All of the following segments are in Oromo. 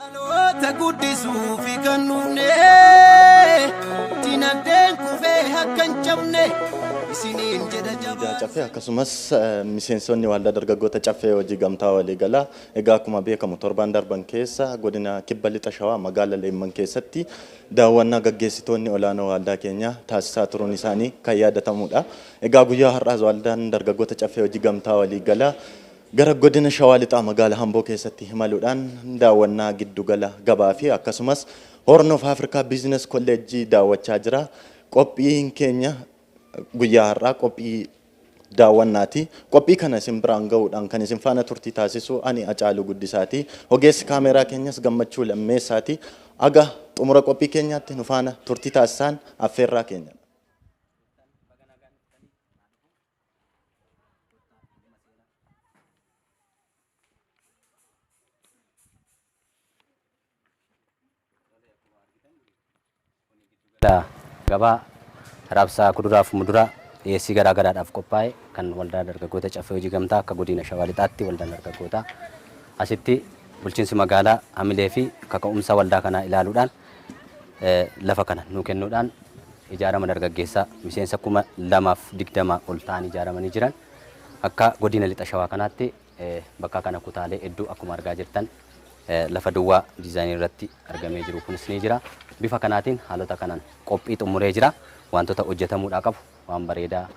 Dhaloota guddisuufi kan dhufne dinagdeen kufee akka hin cabne isiniin jedha Waldaa jabaa. Caffee akkasumas eh, miseensonni waldaa dargaggoota Caffee hojii gamtaa waliigalaa egaa akkuma beekamu torban darban keessa godina kibba lixa shawaa magaala Leemman keessatti daawwannaa gaggeessitoonni olaanoo waldaa keenyaa taasisaa turuun isaanii kan yaadatamudha. Egaa guyyaa har'aas waldaan dargaggoota Caffee hojii gamtaa waliigalaa Gara Godina Shawaa Lixaa Magaala Hamboo keessatti imaluudhaan daawwannaa giddu gala gabaa fi akkasumas Horn of Africa Business College daawwachaa jira. Qophiin keenya guyyaa har'aa qophii daawwannaati. Qophii kana isin biraan ga'uudhaan kan isin faana turtii taasisu ani Acaaluu Guddisaati. Ogeessi kaameeraa keenyas Gammachuu Lammeessaati. Aga xumura qophii keenyaatti nu faana turtii taasisaan affeerraa keenya. Kottaa nama seena. gabaa raabsaa kuduraa fi muduraa dhiyeessii garaa garaadhaaf qophaa'e kan waldaa dargaggoota caffee hojii gamtaa akka godina shawaa lixaatti waldaan dargaggootaa asitti bulchiinsi magaalaa hamilee fi kaka'umsa waldaa kanaa ilaaluudhaan lafa kana nuu kennuudhaan ijaarama dargaggeessaa miseensa kuma lamaaf digdamaa ol ta'an ijaaramanii jiran akka godina lixa shawaa kanaatti bakka kana kutaalee hedduu akkuma argaa jirtan lafa duwwaa diizaayinii irratti argamee jiru kunis ni jira. Bifa kanaatiin haalota kanaan qophii xumuree jira. Wantoota hojjetamuudhaa qabu waan bareedaa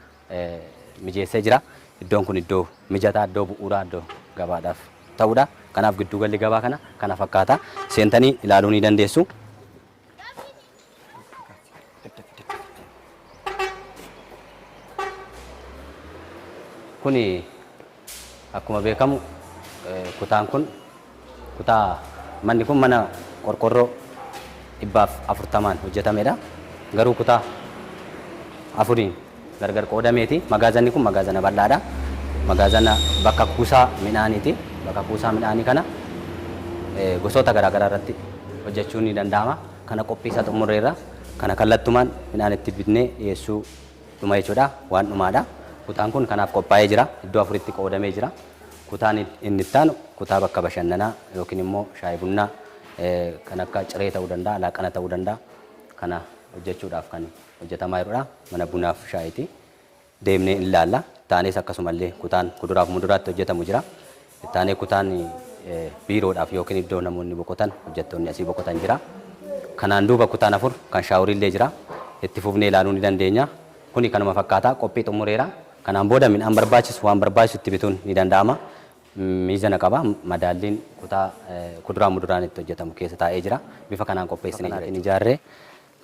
mijeessee jira. Iddoon kun iddoo mijataa, iddoo bu'uuraa, iddoo gabaadhaaf ta'udha. Kanaaf gidduugalli gabaa kana kana fakkaata. Seentanii ilaaluu ni dandeessu. Kuni Akkuma beekamu kutaan kun kutaa manni kun mana qorqorroo dhibbaaf afurtamaan hojjetamedha. Garuu kutaa afuriin gargar qoodameeti. Magaazanni kun magaazana bal'aadha. Magaazana bakka kuusaa midhaaniiti. Bakka kuusaa midhaanii kana gosoota garaa garaa irratti hojjechuun ni danda'ama. Kana qophii isaa xumurreerra. Kana kallattumaan midhaan itti bitnee dhiyeessuu dhuma jechuudha. Waan dhumaadha. Kutaan kun kanaaf qophaa'ee jira. Iddoo afuritti qoodamee jira. Kutaan inni itti aanu kutaa bakka bashannanaa yookiin immoo shaayii bunnaa kan akka ciree ta'uu danda'a, laaqana ta'uu danda'a. Kana hojjechuudhaaf kan hojjetamaa jirudha. Mana bunaaf shaayiiti. Deemnee in laalla. Itti aanees akkasumallee kutaan kuduraaf muduraatti hojjetamu jira. Itti aanee kutaan biiroodhaaf yookiin iddoo namoonni boqotan, hojjattoonni asii boqotan jira. Kanaan duuba kutaan afur kan shaaworiillee jira. Itti fufnee ilaaluu ni dandeenya. Kuni kanuma fakkaata. Qophii xumureera. Kanaan booda midhaan barbaachisu waan barbaachisu itti bituun ni danda'ama. Miizana qaba. Madaalliin kutaa kuduraa muduraan itti hojjatamu keessa taa'ee jira. Bifa kanaan qopheessinee jira jechuudha. Bifa kanaatiin ijaarree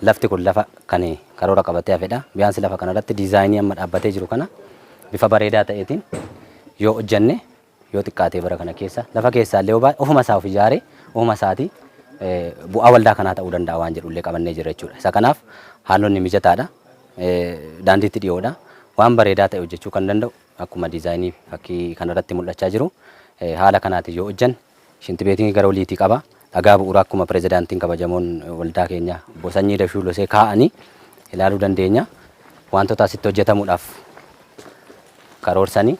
Lafti kun lafa kan karoora qabatee hafedha. Biyaansi lafa kana irratti diizaayinii amma dhaabbatee jiru kana bifa bareedaa ta'eetiin yoo hojjanne yoo xiqqaatee bara kana keessa lafa keessaa illee obaa ofuma isaa of ijaaree ofuma isaatii bu'aa waldaa kanaa ta'uu danda'a waan jedhu illee qabannee jira jechuudha. Isa kanaaf haalonni mijataadha. Daandiitti dhiyoodha. Waan bareedaa ta'e hojjechuu kan danda'u akkuma diizaayinii fakkii kanarratti mul'achaa jiru haala kanaatiin yoo hojjanne Shintibeetiin gara oliitii qaba. Dhagaa bu'uuraa akkuma pirezidaantiin kabajamoon waldaa keenyaa obbo Sanyii Dashuu Losee kaa'anii ilaaluu dandeenya. Wantoota asitti hojjetamuudhaaf karoorsanii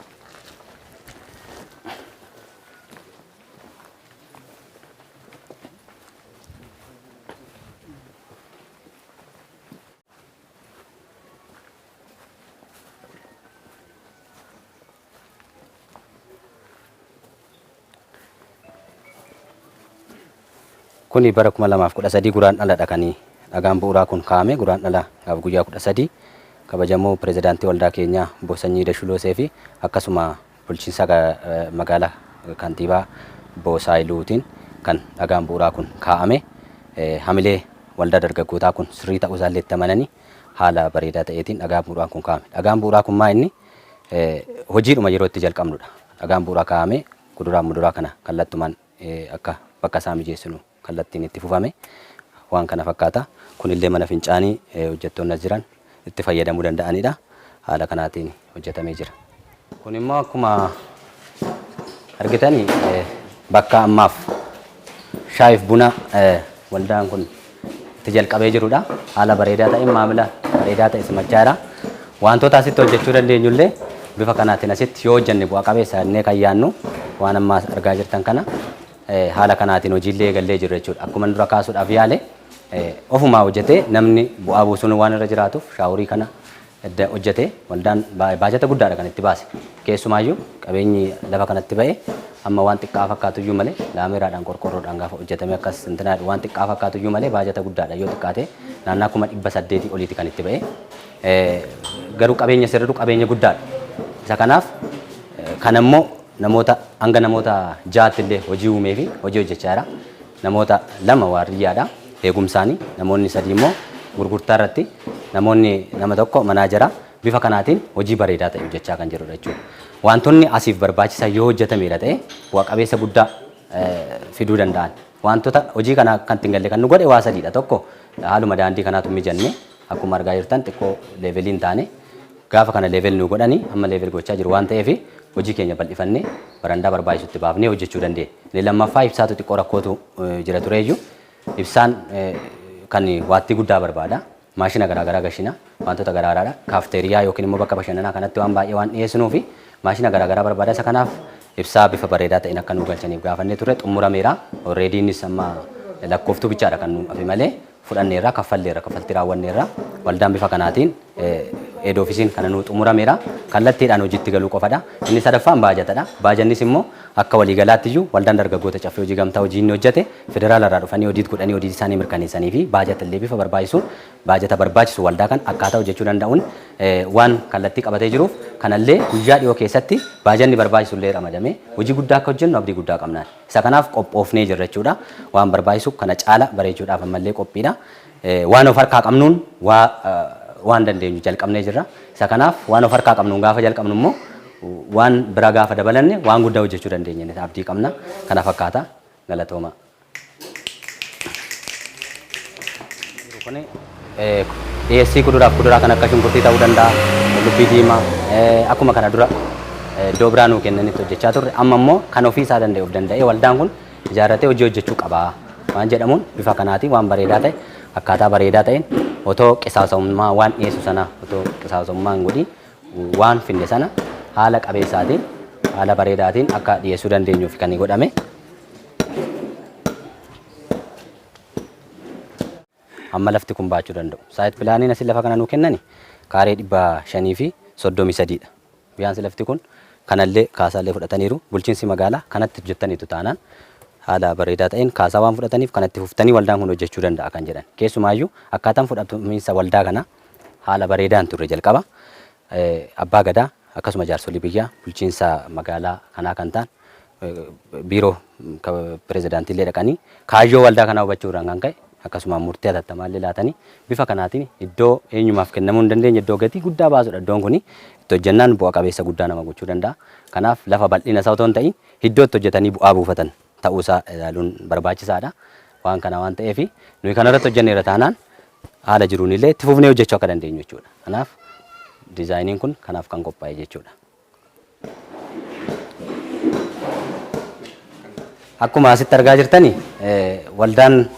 Kuni bara 2013 Guraandhaladha kan dhagaan bu'uuraa kun kaa'ame Guraandhala gaaf guyyaa 13 kabajamoo pirezidaantii waldaa keenyaa obbo Sanyii Dashuloosee fi akkasuma bulchiinsa magaalaa kantiibaa obbo Saayiluutiin kan dhagaan bu'uuraa kun kaa'ame hamilee waldaa dargaggootaa kun sirrii ta'uu isaallee itti amananii haala bareedaa ta'eetiin dhagaan bu'uuraa kun kaa'ame. Dhagaan bu'uuraa kun maa inni hojiidhuma yeroo itti jalqabnudha. Dhagaan bu'uraa kaa'amee kuduraaf muduraa kana kallattumaan akka bakka isaa mijeessinu kallattiin itti fufame waan kana fakkaata. Kunillee mana fincaanii hojjettoonni as jiran itti fayyadamuu danda'anidha. Haala kanaatiin hojjetamee jira. Kun immoo akkuma argitani bakka ammaaf Shaayif buna waldaan kun itti jalqabee jirudha. Haala bareedaa ta'een maamila bareedaa ta'e simachaa jira. Wantoota asitti hojjechuu dandeenyu illee bifa kanaatiin asitti yoo hojjenne bu'a qabeessa jennee kan yaannu waan ammaa argaa jirtan kana haala kanaatiin hojiillee eegallee jirra jechuudha. Akkuma dura kaasuudhaaf yaale ofumaa hojjetee namni bu'aa buusuun waan irra jiraatuuf shaawurii kana edda hojjate waldaan baajata guddaadha kan itti baase. Keessumaayyuu qabeenyi lafa kanatti ba'e hamma waan xiqqaa fakkaatuyyuu malee laameeraadhaan qorqoorroodhaan gaafa hojjatamee akkas intinaa jedhu waan xiqqaa fakkaatuyyuu malee baajata guddaadha yoo xiqqaate naannaa kuma dhibba saddeetii oliiti kan itti ba'e. Garuu qabeenya sirridu qabeenya guddaadha. Isa kanaaf kanammoo namoota hanga namoota ja'aatti illee hojii uumee fi hojii hojjechaa jira. Namoota lama waardiyyaadha eegumsaani, namoonni sadii immoo gurgurtaa irratti, namoonni nama tokko manaajera. Bifa kanaatiin hojii bareedaa ta'e hojjechaa kan jirudha jechuudha. Waantonni asiif barbaachisan yoo hojjetameera ta'e bu'a qabeessa guddaa fiduu danda'an. Waantota hojii kana kan ittiin galle kan nu godhe waa sadiidha. Tokko haaluma daandii kanaatu hin mijanne akkuma argaa jirtan xiqqoo leevelii hin taane. Gaafa kana level nuu godhani amma level gochaa jiru waan ta'eef hojii keenya bal'ifanne barandaa barbaachisu itti baafnee hojjechuu dandeenya. Inni lammaffaa ibsaatu xiqqoo rakkootu jira tureeyyu. Ibsaan kan waattii guddaa barbaada. Maashina garaagaraa gashina wantoota garaagaraadha. Kaafteeriyaa yookiin immoo bakka bashannanaa kanatti waan baay'ee waan dhiyeessinuu fi maashina garaagaraa barbaada. Isa kanaaf ibsaa bifa bareedaa ta'een akka nuu galchaniif gaafannee turre xumurameera. Already innis amma lakkooftuu bichaadha kan nuu hafe malee fudhanneerra, kaffalleerra, kaffaltii raawwanneerra. Waldaan bifa kanaatiin head office'n kana nuu xumurameera. Kallattiidhaan hojiitti galuu qofadha. Inni sadaffaan baajatadha. Baajannis immoo akka waliigalaatti iyyuu waldaan dargaggoota Caffee Hojii Gamtaa hojii inni hojjete federaala irraa dhufanii audit godhanii audit isaanii mirkaneessanii fi baajata illee bifa barbaachisuun baajata barbaachisu waldaa kan akkaataa hojjechuu danda'uun waan kallattii qabatee jiruuf kana illee guyyaa dhiyoo keessatti baajanni barbaachisu illee ramadamee hojii guddaa akka hojjennu abdii guddaa qabna. Isa kanaaf qophoofnee jirra jechuudha. Waan barbaachisu kana caala bareechuudhaaf ammallee qophiidha. Waan of harkaa qabnuun waa waan dandeenyu jalqabnee jirra. Isa kanaaf waan of harkaa qabnuun gaafa jalqabnu immoo waan bira gaafa dabalanne waan guddaa hojjechuu dandeenya jennee abdii qabna. Kana fakkaata. Galatoomaa. Dhiyeessii kuduraaf kuduraa kan akka shunkurtii ta'uu danda'a, qullubbii diimaa akkuma kana dura iddoo biraa nuu kennanitti hojjechaa turre amma immoo kan ofii isaa danda'e of danda'ee waldaan kun ijaarratee hojii hojjechuu qaba waan jedhamuun bifa kanaatiin waan bareedaa ta'e akkaataa bareedaa ta'een otoo qisaasa'ummaa waan dhiyeessu sanaa otoo qisaasa'ummaa hin godhin waan finne sana haala qabeessaatiin haala bareedaatiin akka dhiyeessuu dandeenyuuf kan godhame. hamma lafti kun baachuu danda'u. Saayit pilaaniin asi lafa kana nuu kennani kaaree 533 dha. Biyaansi lafti kun kanallee kaasaallee fudhataniiru. Bulchiinsi magaalaa kanatti hojjettaniitu taanaan haala bareedaa ta'een kaasaa waan fudhataniif kanatti fuftanii waldaan kun hojjechuu danda'a kan jedhan. Keessumaayyuu akkaataan fudhatamiinsa waldaa kanaa haala bareedaa hin turre jalqaba. Abbaa Gadaa akkasuma jaarsolii biyyaa bulchiinsa magaalaa kanaa kan ta'an biiroo pirezidaantii illee dhaqanii kaayyoo waldaa kanaa hubachuu irraan kan ka'e akkasuma murtii hatattamaa illee laatanii bifa kanaatiin iddoo eenyumaaf kennamuu hin dandeenye iddoo gatii guddaa baasudha iddoon kuni itti hojjannaan bu'a qabeessa guddaa nama gochuu danda'a. Kanaaf lafa bal'ina isaa otoo hin ta'iin iddoo itti hojjetanii bu'aa buufatan ta'uu isaa ilaaluun barbaachisaadha. Waan kana waan ta'eef nuyi kanarratti hojjenneera taanaan haala jiruun illee itti fufnee hojjechuu akka dandeenyu jechuudha. Kanaaf dizaayiniin kun kanaaf kan qophaa'e jechuudha. Akkuma asitti argaa jirtani waldaan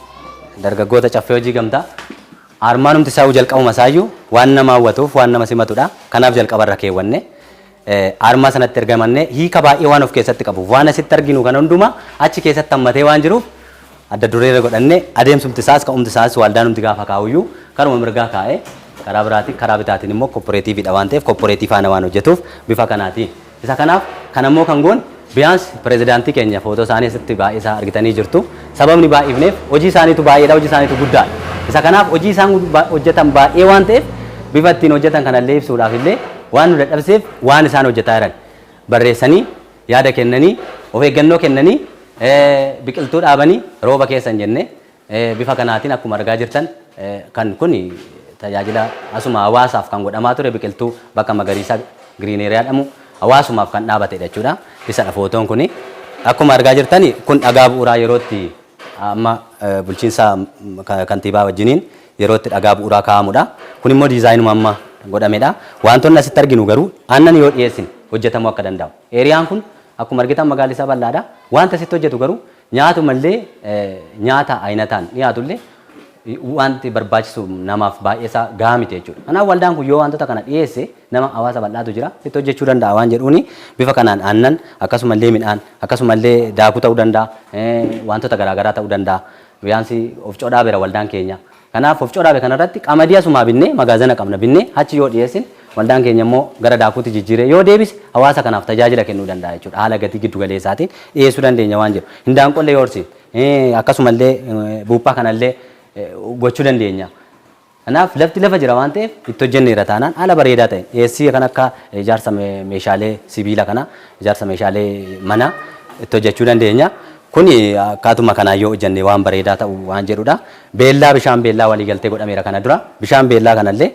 dargaggoota caffee hojii gamtaa armaanumti isaa jalqabuma isaayyuu waan nama hawwatuuf waan nama simatudha. Kanaaf jalqabarra keewwanne. Aarmaa sanatti erga himannee hiika baay'ee waan of keessatti qabuuf waan asitti arginu kana hundumaa achi keessatti hammatee waan jiruuf adda dureerra godhanne adeemsumti isaas ka'umti isaas waaldaanumti gaafa kaa'uyyuu karuma mirgaa kaa'ee karaa biraatiin karaa bitaatiin immoo kopporeetiiviidha waan ta'eef kopporeetii faana waan hojjetuuf bifa kanaatiin isa kanaaf kanammoo kan goone Biyaans pirezidaantii keenya footoo isaanii asitti baay'isaa argitanii jirtu. Sababni baay'ifneef hojii isaaniitu baay'eedha, hojii isaaniitu guddaadha. Isa kanaaf hojii isaan hojjetan baay'ee waan ta'eef bifa ittiin hojjetan kana illee ibsuudhaaf illee waan nu dadhabsiseef waan isaan hojjetaa jiran barreessanii yaada kennanii of eeggannoo kennanii biqiltuu dhaabanii rooba keessa hin jenne Bifa kanaatiin akkuma argaa jirtan kan kun tajaajila asuma hawaasaaf kan godhamaa ture biqiltuu bakka magariisaa giriin eeriyaa jedhamu hawaasumaaf kan dhaabatedha jechuudha. Isadha footoon kun. Akkuma argaa jirtan kun dhagaa bu'uuraa yerootti amma bulchiinsa kantiibaa wajjiniin yerootti dhagaa bu'uuraa kaa'amudha. Kun immoo diizaayinuma amma godhamedha. Wantoonni asitti arginu garuu aannan yoo dhiyeessine hojjetamuu akka danda'u. Eeriyaan kun akkuma argitan magaalli isaa bal'aadha. Wanta asitti hojjetu garuu Nyaatumallee nyaata ayinataan dhiyaatullee wanti barbaachisu namaaf baay'eesaa gahaa miti jechuudha. Kanaaf waldaan kun yoo wantoota kana dhiyeesse nama hawaasa bal'aatu jira itti hojjechuu danda'a waan jedhuuni bifa kanaan aannan akkasumallee midhaan akkasumallee daakuu ta'uu danda'a wantoota garaagaraa ta'uu danda'a biyaansii of codhaa bira waldaan keenya Kanaaf of coraabe kana irratti qamadii asumaa binnee magaazana qabna binnee hachi yoo dhiyeessin waldaan keenya immoo gara daakuutti jijjiiree yoo deebise hawaasa kanaaf tajaajila kennuu danda'a jechuudha haala gatii giddu galeessaatiin dhiyeessuu dandeenya waan jedhu hindaanqollee yoo horsiifne akkasumallee buuphaa kanallee gochuu dandeenya. Kanaaf lafti lafa jira waan ta'eef itti hojjenneerra taanaan haala bareedaa ta'een dhiyeessii kan akka ijaarsa meeshaalee sibiila kana ijaarsa meeshaalee mana itti hojjechuu dandeenya. Kuni akkaatuma kanaan yoo hojjenne waan bareedaa ta'u waan jedhudha. Beellaa bishaan beellaa waliigaltee godhameera kana dura. Bishaan beellaa kanallee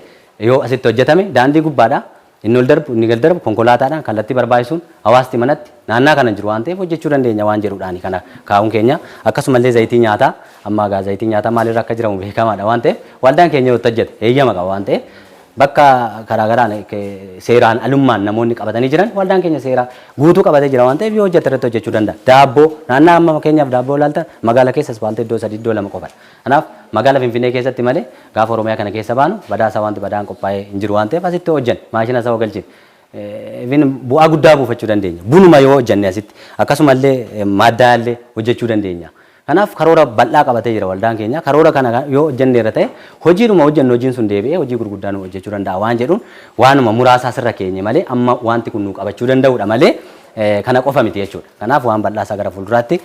yoo asitti hojjetame daandii gubbaadha. Inni ol darbu, inni gad darbu konkolaataadhaan kallattii barbaachisuun hawaasti manatti naannaa kana jiru waan ta'eef hojjechuu dandeenya waan jedhuudhaani kana kaa'uun keenya. Akkasumallee zayitii nyaataa amma egaa zayitiin nyaataa maalirra akka jiramu beekamaadha waan ta'eef waldaan keenya yoo itti hojjete heeyyama qaba waan ta'eef Bakka karaa garaan seeraan alummaan namoonni qabatanii jiran waldaan keenya seeraa guutuu qabatee jira waan ta'eef yoo hojjate irratti hojjechuu danda'a. Daabboo naannaa amma fakkeenyaaf daabboo ilaalta magaala keessa ispaaltii iddoo sadii iddoo lama qofadha. Kanaaf magaala Finfinnee keessatti malee gaafa Oromiyaa kana keessa baanu badaasaa wanti badaan qophaa'ee hin jiru waan ta'eef asitti hojjanne maashina isaa galchine even bu'aa guddaa buufachuu dandeenya. Bunuma yoo hojjanne asitti akkasumallee maaddaallee hojjechuu dandeenya. Kanaaf karoora bal'aa qabatee jira waldaan keenya. Karoora kana yoo hojjenneerra ta'e hojiidhuma hojjennu hojiin sun deebi'ee hojii gurguddaa nuu hojjechuu danda'a waan jedhuun waanuma muraasa asirra keenye malee amma waanti kun nuu qabachuu danda'uudha malee kana qofa miti jechuudha. Kanaaf waan bal'aa isaa gara fuulduraatti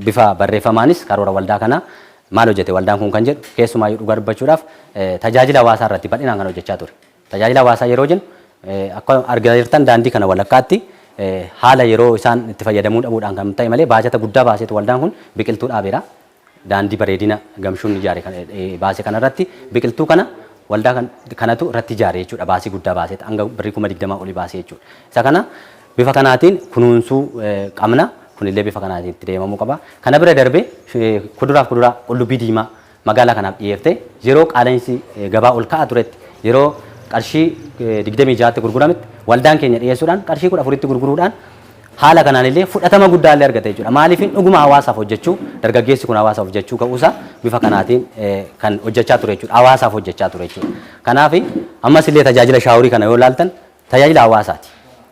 bifa barreeffamaanis karoora waldaa kana maal hojjete waldaan kun kan jedhu keessumaayyuu dhugaa dubbachuudhaaf tajaajila hawaasaa irratti bal'inaan kan hojjechaa ture. Tajaajila hawaasaa yeroo jennu akka argaa jirtan daandii kana walakkaatti haala yeroo isaan itti fayyadamuu dhabuudhaan kan ta'e malee baajata guddaa baaseetu waldaan kun biqiltuu dhaabeera. Daandii bareedina gamshuun ijaare baase kanarratti biqiltuu kana waldaa kanatu irratti ijaare jechuudha. Baasii guddaa baaseet hanga birrii kuma digdamaa olii baasee jechuudha. Isa kana bifa kanaatiin kunuunsuu qabna. Kunillee bifa kanaatiin itti deemamuu qaba. Kana bira darbee kuduraaf kuduraa qullubbii diimaa magaalaa kanaaf dhiyeefte yeroo qaala'insi gabaa ol ka'aa turetti yeroo qarshii 26tti gurgurametti waldaan keenya dhiyeessuudhaan qarshii 14tti gurguruudhaan haala kanaan illee fudhatama guddaa illee argate jechuudha. Maaliifin dhuguma hawaasaaf hojjechuu dargaggeessi kun hawaasaaf hojjechuu ka'uusaa bifa kanaatiin kan hojjechaa ture jechuudha. Hawaasaaf hojjechaa ture jechuudha. Kanaaf ammas illee tajaajila shaaworii kana yoo ilaaltan Tajaajila hawaasaati.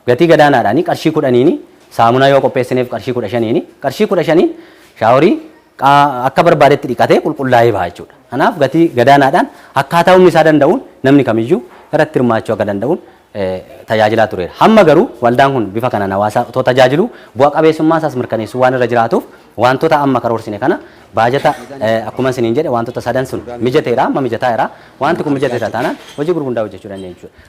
Gatii gadaanaadhaani qarshii kudhaniini saamunaa yoo qopheessineef qarshii kudha shaniini qarshii kudha shaniin shaaworii qaa akka barbaadetti dhiqatee qulqullaa'ee baha jechuudha. Kanaaf gatii gadaanaadhaan akkaataa humni isaa danda'uun namni kamiyyuu irratti hirmaachuu akka danda'uun tajaajilaa tureera. Hamma garuu waldaan kun bifa kanaan hawaasa otoo tajaajiluu bu'a qabeessummaa isaas mirkaneessuu waan irra jiraatuuf wantoota amma karoorsine kana baajata akkuma isiniin jedhe wantoota sadan sun mijateera amma mijataa jira wanti kun mijateera taanaan hojii gurgundaa hojjechuu dandeenya jechuudha.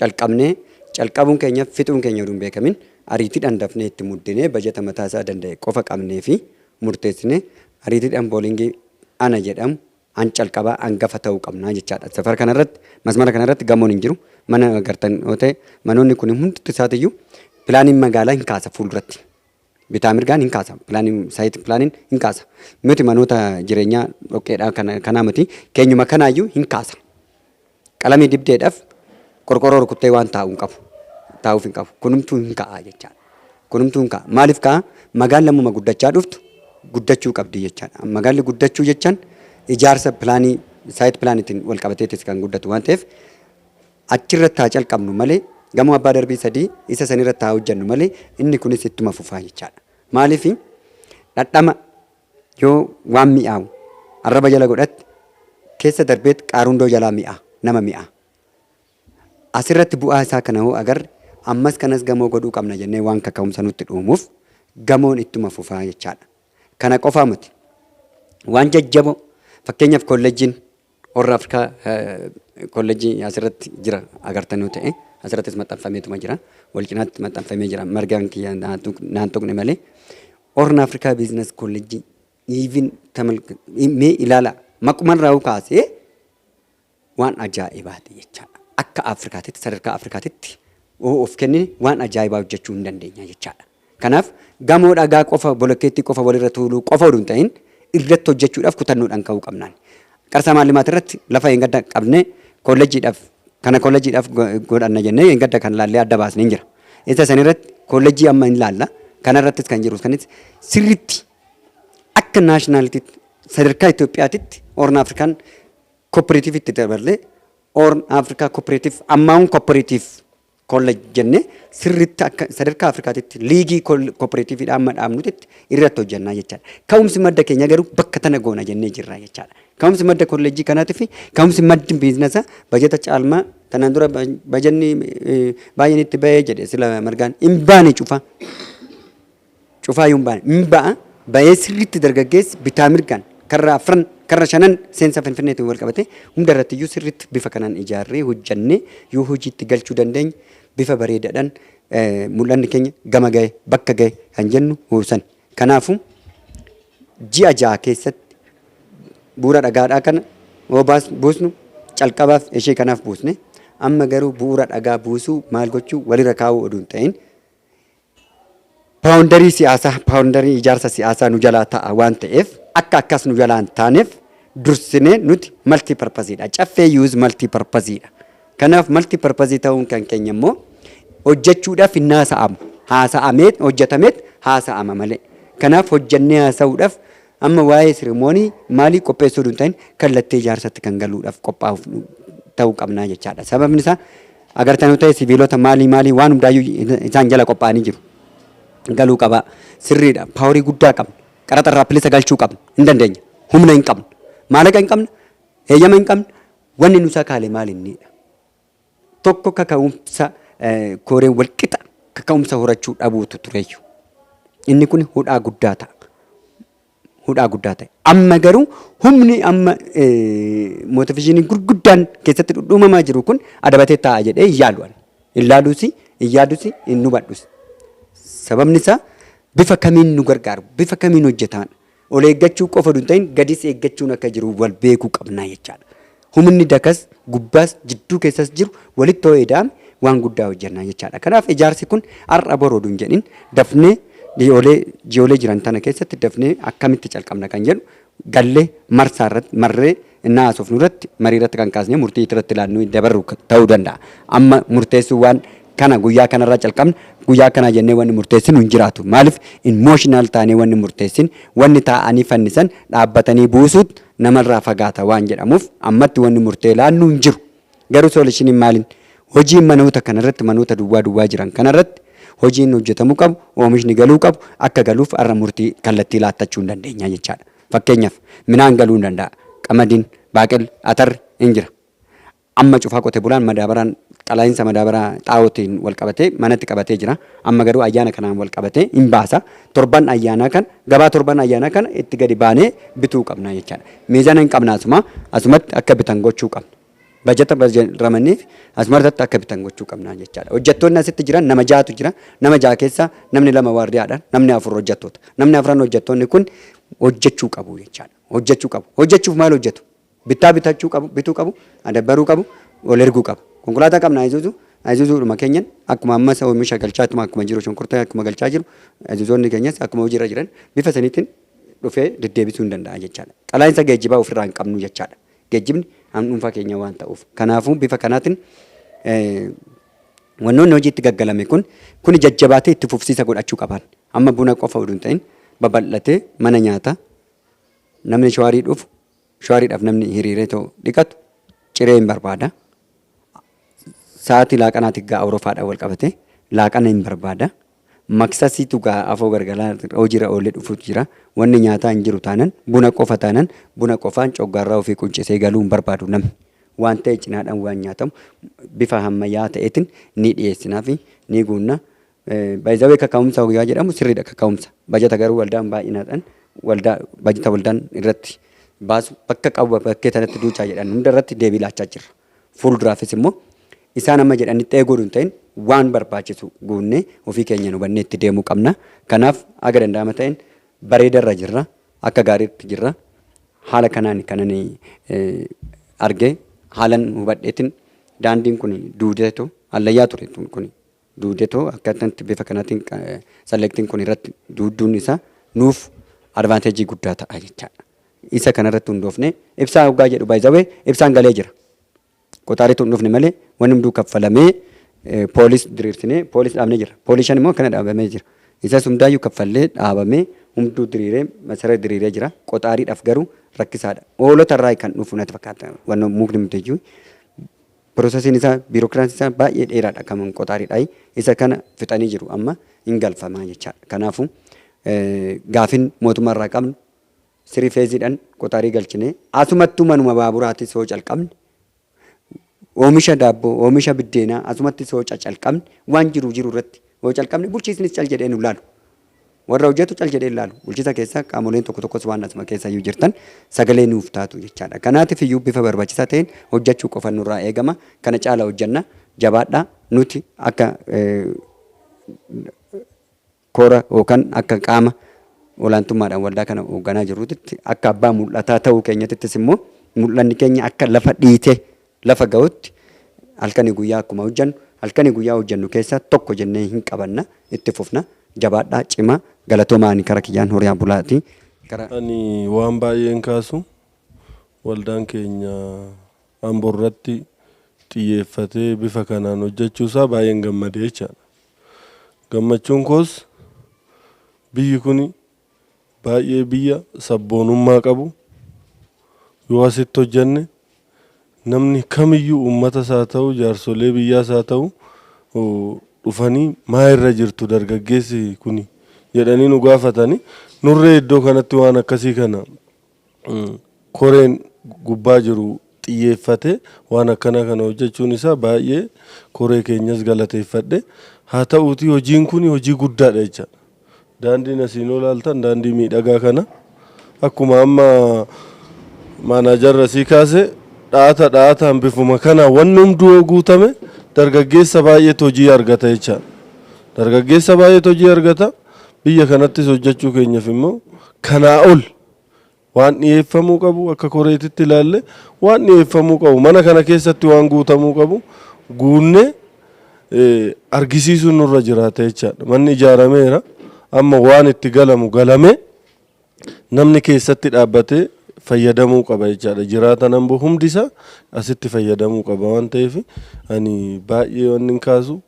calqabnee, calqabuun keenya fixuun keenya utuu hin beekamin ariitiidhaan dafnee itti muddinee bajata mataa isaa danda'e qofa qabnee fi murteessinee ariitiidhaan boolingii ana jedhamu an calqabaa angafa ta'uu qabnaa jechaadha. Safara kana irratti masmara kana irratti gamoon hin jiru. Mana agartan yoo ta'e manoonni kun hundumti isaatiyyuu pilaaniin magaalaa hin kaasa fuulduratti. Bitaa mirgaan hin kaasa. Planin, site planin hin kaasa. Nuti manoota jireenyaa dhoqqeedhaa kana, kanaa miti. Keenyuma kanaayyuu hin kaasa. Qalamii dibdeedhaaf qorqorroo rukuttee waan taa'u hin qabu. Taa'uuf hin qabu. Kunumtuu hin ka'a jechaadha. Kunumtuu hin ka'a. Maaliif ka'a? Magaalli ammuma guddachaa dhuftu guddachuu qabdi jechaadha. Magaalli guddachuu jechaan ijaarsa plaanii site planitiin wal qabateetis kan guddatu waan ta'eef Achirratti haa calqabnu malee, gamoo abbaa darbii sadii isa sanirratti haa hojjennu malee, inni kunis ittuma fufaa jechaadha. Maaliif? Dhadhama yoo waan mi'aawu arraba jala godhatte, keessa darbeet qaarundoo jalaa mi'aa, nama mi'aa. Asirratti bu'aa isaa kana hoo agarre, ammas kanas gamoo godhuu qabna jennee waan kaka'umsa nutti dhuumuuf, gamoon ittuma fufaa jechaadha. Kana qofaa miti. Waan jajjaboo, fakkeenyaaf kollejjiin Horn Africa College asirratti jira agartanuu ta'e asirrattis maxxanfameetuma jira wal cinaatti maxxanfamee jira margaan kiyya naa tuq- naan tuqne malee Horn Africa Business College even tamal mee ilaala maquman raawuu kaasee waan ajaa'ibaati jechaadha. Akka Afrikaatitti sadarkaa Afrikaatitti yoo of kennine waan ajaa'ibaa hojjechuu hin dandeenya jechaadha. Kanaaf, gamoo dhagaa qofa, bolokkeettii qofa walirra tuuluu qofa oduu hin ta'in irratti hojjechuudhaaf kutannoodhaan ka'uu qabna. Qarsaa Maallimaat irratti lafa dheengadda qabnee kollejjiidhaaf kana kollejjiidhaaf godhanna jennee dheengadda kan laallee adda baasne hin jira. Isa san irratti kollejjii amma hin laalla. Kana irrattis kan jiru kanis sirriitti akka naashinaaliitiitti sadarkaa Itoophiyaatitti Hoorn Afrikaan kooppereetiivitti daballee Hoorn Afrikaa kooppereetiif ammaawun kooppereetiif college jenne sirritti akka sadarkaa Afrikaatitti liigii kooperaatiiviidha amma dhaabnutitti irratti hojjannaa jechaadha. Ka'umsi madda keenya garuu bakka tana goona jennee jirra jechaadha. Ka'umsi madda kolleejjii kanaatii fi ka'umsi maddi biiznasa bajata caalmaa tanaan dura bajanni baay'een itti ba'ee jedhe sila margaan hin baane cufa. Cufaayuu hin baane. Hin ba'a. Ba'ee sirriitti dargaggeessi bitaa mirgaan karra afran, karra shanan seensa Finfinneetiin walqabatee hundarrattiyyuu sirriitti bifa kanaan ijaarree hojjannee yoo hojiitti galchuu dandeenye bifa bareedaadhaan mul'anni keenya gama gahe, bakka gahe kan jennu sani. Kanaafuu, ji'a ja'a keessatti bu'uura dhagaadhaa kana yoo buusnu calqabaaf ishee kanaaf buusne amma garuu bu'uura dhagaa buusuu maal gochuu walirra kaa'uu oduu hin ta'in Paawundarii siyaasaa, paawundarii ijaarsa siyaasaa nu jalaa ta'a waan ta'eef akka akkas nu jalaa hin taaneef dursinee nuti multi purpose dha. Caffee Youth multi purpose dha. Kanaaf multi purpose ta'uun kan keenya immoo hojjechuudhaaf hin haasa'amu. Haasa'ameet, hojjetameet haasa'ama malee. Kanaaf hojjennee haasa'uudhaaf Amma waa'ee siremoonii maalii qopheessuu utuu hin ta'in kallattii ijaarsatti kan galuudhaaf qophaa'uuf ta'uu qabna jechaadha. Sababni isaa agartanuu ta'e sibiilota maalii maalii waan hundaayyuu isaan jala qophaa'anii jiru. Galuu qabaa. Sirriidha. Paaworii guddaa qabna. Qaraxa irraa bilisa galchuu qabna. Hin dandeenya. Humna hin qabna. Maallaqa hin qabna. Heeyyama hin qabna. Wanni nu sakaale maal inniidha? Tokko kaka'umsa kooreen walqixa kaka'umsa horachuu dhabuutu tureyyu. Inni kun hudhaa guddaa ta'a. Hudhaa guddaa ta'e. Amma garuu humni amma mootivishinii gurguddaan keessatti dhudhuumamaa jiru kun adabatee taa'a jedhee hin yaalu ani. Hin laaluusi, hin yaadusi, hin hubadhusi. Sababni isaa bifa kamiin nu gargaaru, bifa kamiin hojjetaan Ol eeggachuu qofa utuu hin ta'in gadis eeggachuun akka jiru wal beekuu qabna jechaadha. Humni dakas, gubbaas, jidduu keessas jiru walitti yoo ida'ame waan guddaa hojjenna jechaadha. Kanaaf ijaarsi kun har'a bor oduu hin jedhin dafnee ji'oolee ji'oolee jiran tana keessatti dafnee akkamitti calqabna kan jedhu gallee marsaa irratti marree ennaa haasofnu irratti marii irratti kan kaasnee murtii irratti laannuu dabarru ta'uu danda'a. Amma murteessuu waan kana guyyaa kana irraa calqabna guyyaa akkanaa jennee wanni murteessinu hin jiraatu. Maaliif emotional taanee wanni murteessin wanni taa'anii fannisan dhaabbatanii buusuut namarraa fagaata waan jedhamuuf ammatti wanni murtee laannu hin jiru. Garuu soolishiniin maalin hojiin manoota kana irratti manoota duwwaa duwwaa jiran kana irratti hojiin hojjetamuu qabu oomishni galuu qabu akka galuuf har'a murtii kallattii laattachuu hin dandeenya jechaadha. Fakkeenyaaf, midhaan galuu ni danda'a. Qamadiin, baaqelli, atarri in jira. Amma cufaa qote bulaan madaabaraan qalaa'insa madaabaraa xaa'ootiin wal qabatee manatti qabatee jira. Amma garuu ayyaana kanaan wal qabatee in baasa. Torban ayyaanaa kana, gabaa torban ayyaanaa kana itti gadi baanee bituu qabna jechaadha. Miizana in qabna asuma, asumatti akka bitan gochuu qabna. Bajata ramadneef as martatti akka bitan gochuu qabna jechaadha. Hojjattoonni asitti jiran nama ja'atu jira. Nama ja'a keessaa namni lama waardiyaadha. Namni afur hojjattoota. Namni afran hojjattoonni kun hojjachuu qabu jechaadha. Hojjachuu qabu. Hojjachuuf maal hojjatu? Bittaa bitachuu qabu, bituu qabu, adabbaruu qabu, ol erguu qabu. Konkolaataa qabna Ayzuzu, Ayzuzuudhuma keenyan akkuma ammas oomisha galchaa ittuma akkuma jiru shunkurtaa akkuma galchaa jiru Ayzuzoonni keenyas akkuma hojiirra jiran bifa saniitiin dhufee deddeebisuu hin danda'a jechaadha. Qalaa'insa geejjibaa ofirraa hin qabnu jechaadha. Geejjibni kan dhuunfaa keenyaa waan ta'uuf. Kanaafuu bifa kanaatiin wannoonni hojii itti gaggalame kun kuni jajjabaatee itti fufsiisa godhachuu qabaan. Amma buna qofa uduun ta'in babal'atee mana nyaataa namni shawaarii dhufu shawaariidhaaf namni hiriiree too dhiqatu ciree hin barbaada. Sa'aatii laaqanaati gaa awurofaadhaan wal qabatee laaqana hin barbaada. Maksasiitu ga'a afoo gargalaa hojira oole dhufutu jira. Wanni nyaataa hin jiru taanan buna qofa taanan buna qofaan coggaarraa ofii quncisee galuu hin barbaadu namni. Waan ta'e cinaadhaan waan nyaatamu bifa hammayyaa ta'eetin ni dhiyeessinaafi ni guunna. By the way kaka'umsa hoggaa jedhamu sirriidha kaka'umsa. Bajata garuu waldaan baay'inaadhaan waldaa bajata waldaan irratti baasu bakka qabu bakkee tanatti duuchaa jedhan hunda irratti deebii laachaa jirra. Fuulduraafis immoo isaan amma jedhanitti ta'ee godhu hin ta'in waan barbaachisu goonnee ofii keenyaan hubannee itti deemuu qabna. Kanaaf haga danda'ama ta'een bareedarra jirra. Akka gaariitti jirra. Haala kanaan kanan argee haalan hubadheetin daandiin kun duudeetu hallayyaa ture kun. duude too akkaataa itti bifa kanaatiin selecting kun irratti duudduun isaa nuuf advantage guddaa ta'a jechaadha. Isa kana irratti hundoofne ibsaa hoggaa jedhu by the way ibsaan galee jira. Qotaaritu hin dhufne malee wanni hunduu kaffalamee poolis diriirsinee poolis dhaabnee jira. Poolishan immoo akkana dhaabamee jira. Isas hundaayyuu kaffallee dhaabamee hunduu diriiree masara diriiree jira. Qotaariidhaaf garuu rakkisaadha. Hoolota irraa kan dhufu natti fakkaata. Wanna mukni muddayyuu Processin isaa biirokiraansi isaa baay'ee dheeraadha kaman qoxaaridhaayi isa kana fixanii jiru amma hin galfamaa jechaadha kanaafu gaafin mootummaa irraa qabnu sirii feeziidhan qoxaarii galchinee asumattuu manuma baaburaatis hoo calqabne oomisha daabboo oomisha biddeenaa asumatti soo cacalqabne waan jiru jiru irratti hoo calqabne bulchiisnis cal jedhee nu laalu Warra hojjetu cal jedhee hin laalu. Bulchisa keessa qaamoleen tokko tokkos waan asuma keessa iyyuu jirtan sagalee nuuf taatu jechaadha. Kanaatiif iyyuu bifa barbachisaa ta'een hojjachuu qofa nurraa eegama. Kana caala hojjanna. Jabaadhaa. Nuti akka kora yookaan akka qaama olaantummaadhaan waldaa kana hoogganaa jirrutitti akka abbaa mul'ataa ta'uu keenyatittis immoo mul'anni keenya akka lafa dhiitee Lafa ga'utti halkanii guyyaa akkuma hojjannu, halkanii guyyaa hojjannu keessaa tokko jennee hin qabanna, itti fufna. Jabaadhaa, cimaa. Galatoomaa ani kara kiyyaan horia bulaati. Gara. Ani waan baay'een kaasu waldaan keenya Ambo irratti xiyyeeffatee bifa kanaan hojjachuu isaa baay'een gammade jechaadha. Gammachuun koos biyyi kuni. baay'ee biyya sabboonummaa qabu yoo asitti hojjanne namni kamiyyuu uummata isaa ta'u jaarsolee biyyaa isaa ta'u dhufanii maa irra jirtu dargaggeessi kuni jedhanii nu gaafatanii nurree iddoo kanatti waan akkasii kana koreen gubbaa jiru xiyyeeffatee waan akkanaa kana hojjechuun isaa baay'ee koree keenyas galateeffadhe. Haa ta'uutii hojiin kuni hojii guddaadha jechaadha. Daandiin asiin ol ilaaltan daandii miidhagaa kana akkuma amma maanaajarri asii kaase dha'ata dha'ataan bifuma kanaan wanni hunduu yoo guutame dargaggeessa baay'eetu hojii argata jechaadha. Dargaggeessa baay'eetu hojii argata. Biyya kanattis hojjechuu keenyaf immoo kanaa ol Waan dhiyeeffamuu qabu akka koreetitti ilaalle waan dhiyeeffamuu qabu mana kana keessatti waan guutamuu qabu guunne argisiisuun nurra jiraata jechaadha. Manni ijaarameera amma waan itti galamu galame namni keessatti dhaabbatee fayyadamuu qaba jechaadha. Jiraata nambu hundi isaa asitti fayyadamuu qaba waan ta'eef ani baay'ee wanni hin kaasu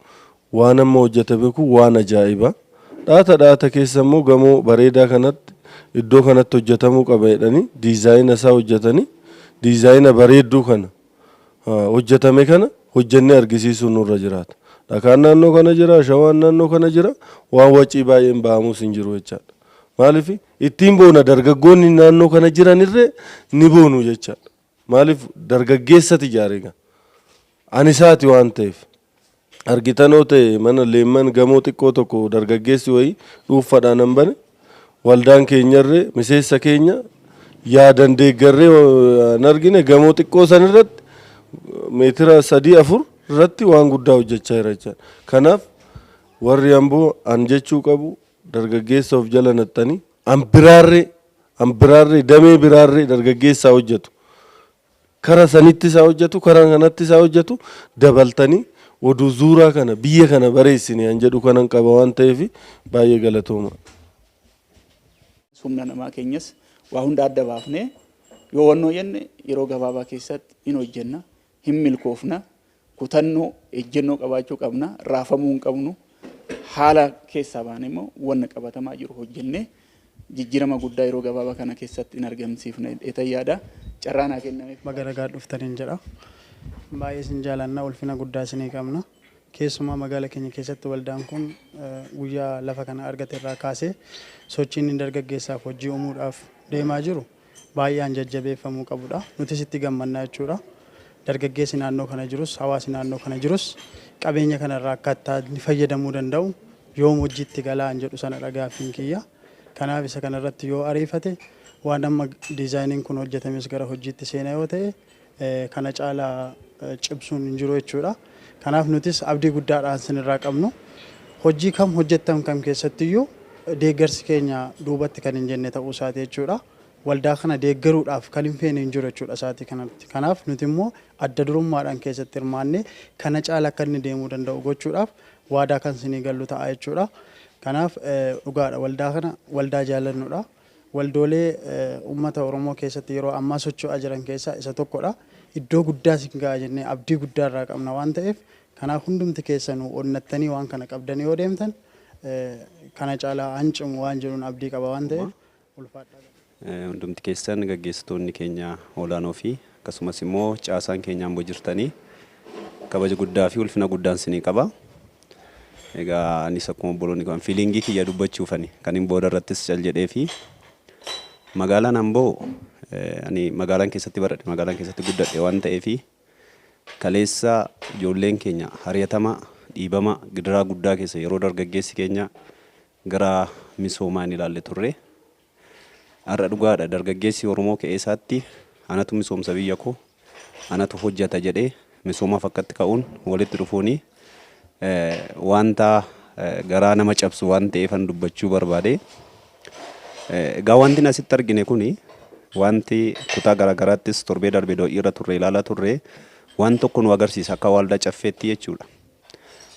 Waan amma hojjatame kun waan ajaa'iba. Dhaata dhaata keessa immoo gamoo bareedaa kanatti iddoo kanatti hojjatamuu qaba jedhanii diizaayina isaa hojjatanii diizaayina bareedduu kana hojjatame kana hojjannee argisiisuun nurra jiraata. Dhakaan naannoo kana jira, ashawaan naannoo kana jira, waan wacii baay'een ba'amuus hin jiru jechaadha. Maaliif ittiin boona dargaggoonni naannoo kana jiranirree ni boonu jechaadha. Maaliif dargaggeessati ijaare egaa. Ani isaati waan ta'eef. argitan yoo ta'e mana Leemman gamoo xiqqoo tokko dargaggeessi wayii dhuunfadhaan an bane waldaan keenyarre miseessa keenya yaadan deeggarree an argine gamoo xiqqoo san irratti meetira sadii afur irratti waan guddaa hojjechaa jira jechaan kanaaf warri amboo an jechuu qabu dargaggeessa of jala naxxanii an biraarree an biraarree damee biraarree dargaggeessaa hojjetu Kara sanittis haa hojjatu kara kanattis haa hojjatu dabaltanii oduu zuuraa kana biyya kana bareessine an jedhu kanan qaba waan ta'eef baay'ee galatooma. Humna namaa keenyas waa hunda adda baafnee yoo wannoo jenne yeroo gabaabaa keessatti hin hojjenna, hin milkoofna, Kutannoo, ejjennoo qabaachuu qabna. Raafamuu hin qabnu. Haala keessaa baanee immoo wanna qabatamaa jiru hojjennee jijjiirama guddaa yeroo gabaabaa kana keessatti hin argamsiifna jedheetan yaada. Carraa naa kennameef. Baga nagaan dhuftan in jedha. Baay'ee isin jaalanna, ulfina guddaa isinii qabna. Keessumaa magaala keenya keessatti waldaan kun guyyaa lafa kana argate irraa kaasee sochiin inni dargaggeessaaf hojii uumuudhaaf deemaa jiru, baay'eean jajjabeeffamuu qabudha. Nutis itti gammadna jechuudha. Dargaggeessi naannoo kana jirus, hawaasi naannoo kana jirus qabeenya kana irraa akkaataa inni fayyadamuu danda'u yoom hojiitti galaan jedhu sanadha gaaffiin kiyya. Kanaaf isa kana irratti yoo ariifate waan amma diizaayiniin kun hojjetames gara hojiitti seena yoo ta'e kana caala cimsuun hin jiru jechuudha. Kanaaf nutis abdii guddaadhaan isin irraa qabnu. Hojii kam hojjettan kam keessatti iyyuu deeggarsi keenya duubatti kan hin jenne ta'uu isaati jechuudha. Waldaa kana deeggaruudhaaf kan hin feene hin jiru jechuudha sa'aatii kanatti. Kanaaf nuti immoo adda durummaadhaan keessatti hirmaannee kana caala akka inni deemuu danda'u gochuudhaaf waadaa kan isinii gallu ta'a jechuudha. Kanaaf dhugaadha waldaa kana waldaa jaalannudha. Waldoolee ummata Oromoo keessatti yeroo ammaa socho'aa jiran keessaa isa tokkodha. Iddoo guddaas hin ga'a jennee abdii guddaa irraa qabna waan ta'eef kanaaf hundumti keessanuu onnattanii waan kana qabdanii yoo deemtan kana caalaa han cimu waan jedhuun abdii qaba waan ta'eef ulfaadhaa galaa. Hundumti keessan gaggeessitoonni keenya olaanoo fi akkasumas immoo caasaan keenya Amboo jirtanii kabaja guddaa fi ulfina guddaan isinii qaba. Egaa anis akkuma obboloonni kan fiiliingii kiyya dubbachuufani kanin booda irrattis cal jedhee fi magaalaan Amboo ani magaalaan keessatti baradhe magaalaan keessatti guddadhe waan ta'eef kaleessa ijoolleen keenya hariyatama dhiibama gidiraa guddaa keessa yeroo dargaggeessi keenya gara misoomaa hin ilaalle turre. Har'a dhugaadha dargaggeessi Oromoo qe'eesaatti anatu misoomsa biyyakoo, anatu hojjata jedhee misoomaaf akkatti ka'uun walitti dhufuun wanta garaa nama cabsu waan ta'eefan dubbachuu barbaade. Egaa wantin asitti argine kuni wanti kutaa garaagaraattis torbee darbe do'iirra turre ilaalaa turre waan tokko nu agarsiisa akka waaldaa caffeetti jechuudha.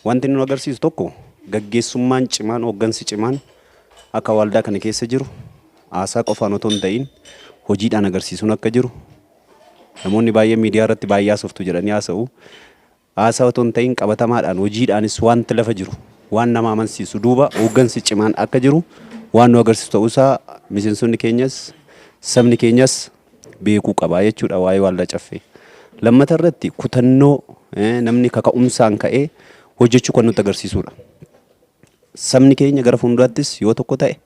Wanti inni nu agarsiisu tokko gaggeessummaan cimaan, hooggansi cimaan akka waaldaa kana keessa jiru haasaa qofaan otoo hin ta'iin hojiidhaan agarsiisuun akka jiru namoonni baay'een miidiyaa irratti baay'ee haasoftu jedhanii haasa'u. Haasaa otoo hin ta'iin qabatamaadhaan hojiidhaanis wanti lafa jiru waan nama amansiisu duuba hooggansi cimaan akka jiru waan nu agarsiisu ta'uusaa miseensonni keenyas sabni keenyas beekuu qaba jechuudha waa'ee waaldaa caffee. Lammata irratti kutannoo namni kaka'umsaan ka'ee hojjechuu kan nutti agarsiisudha. Sabni keenya gara fuulduraattis yoo tokko ta'e,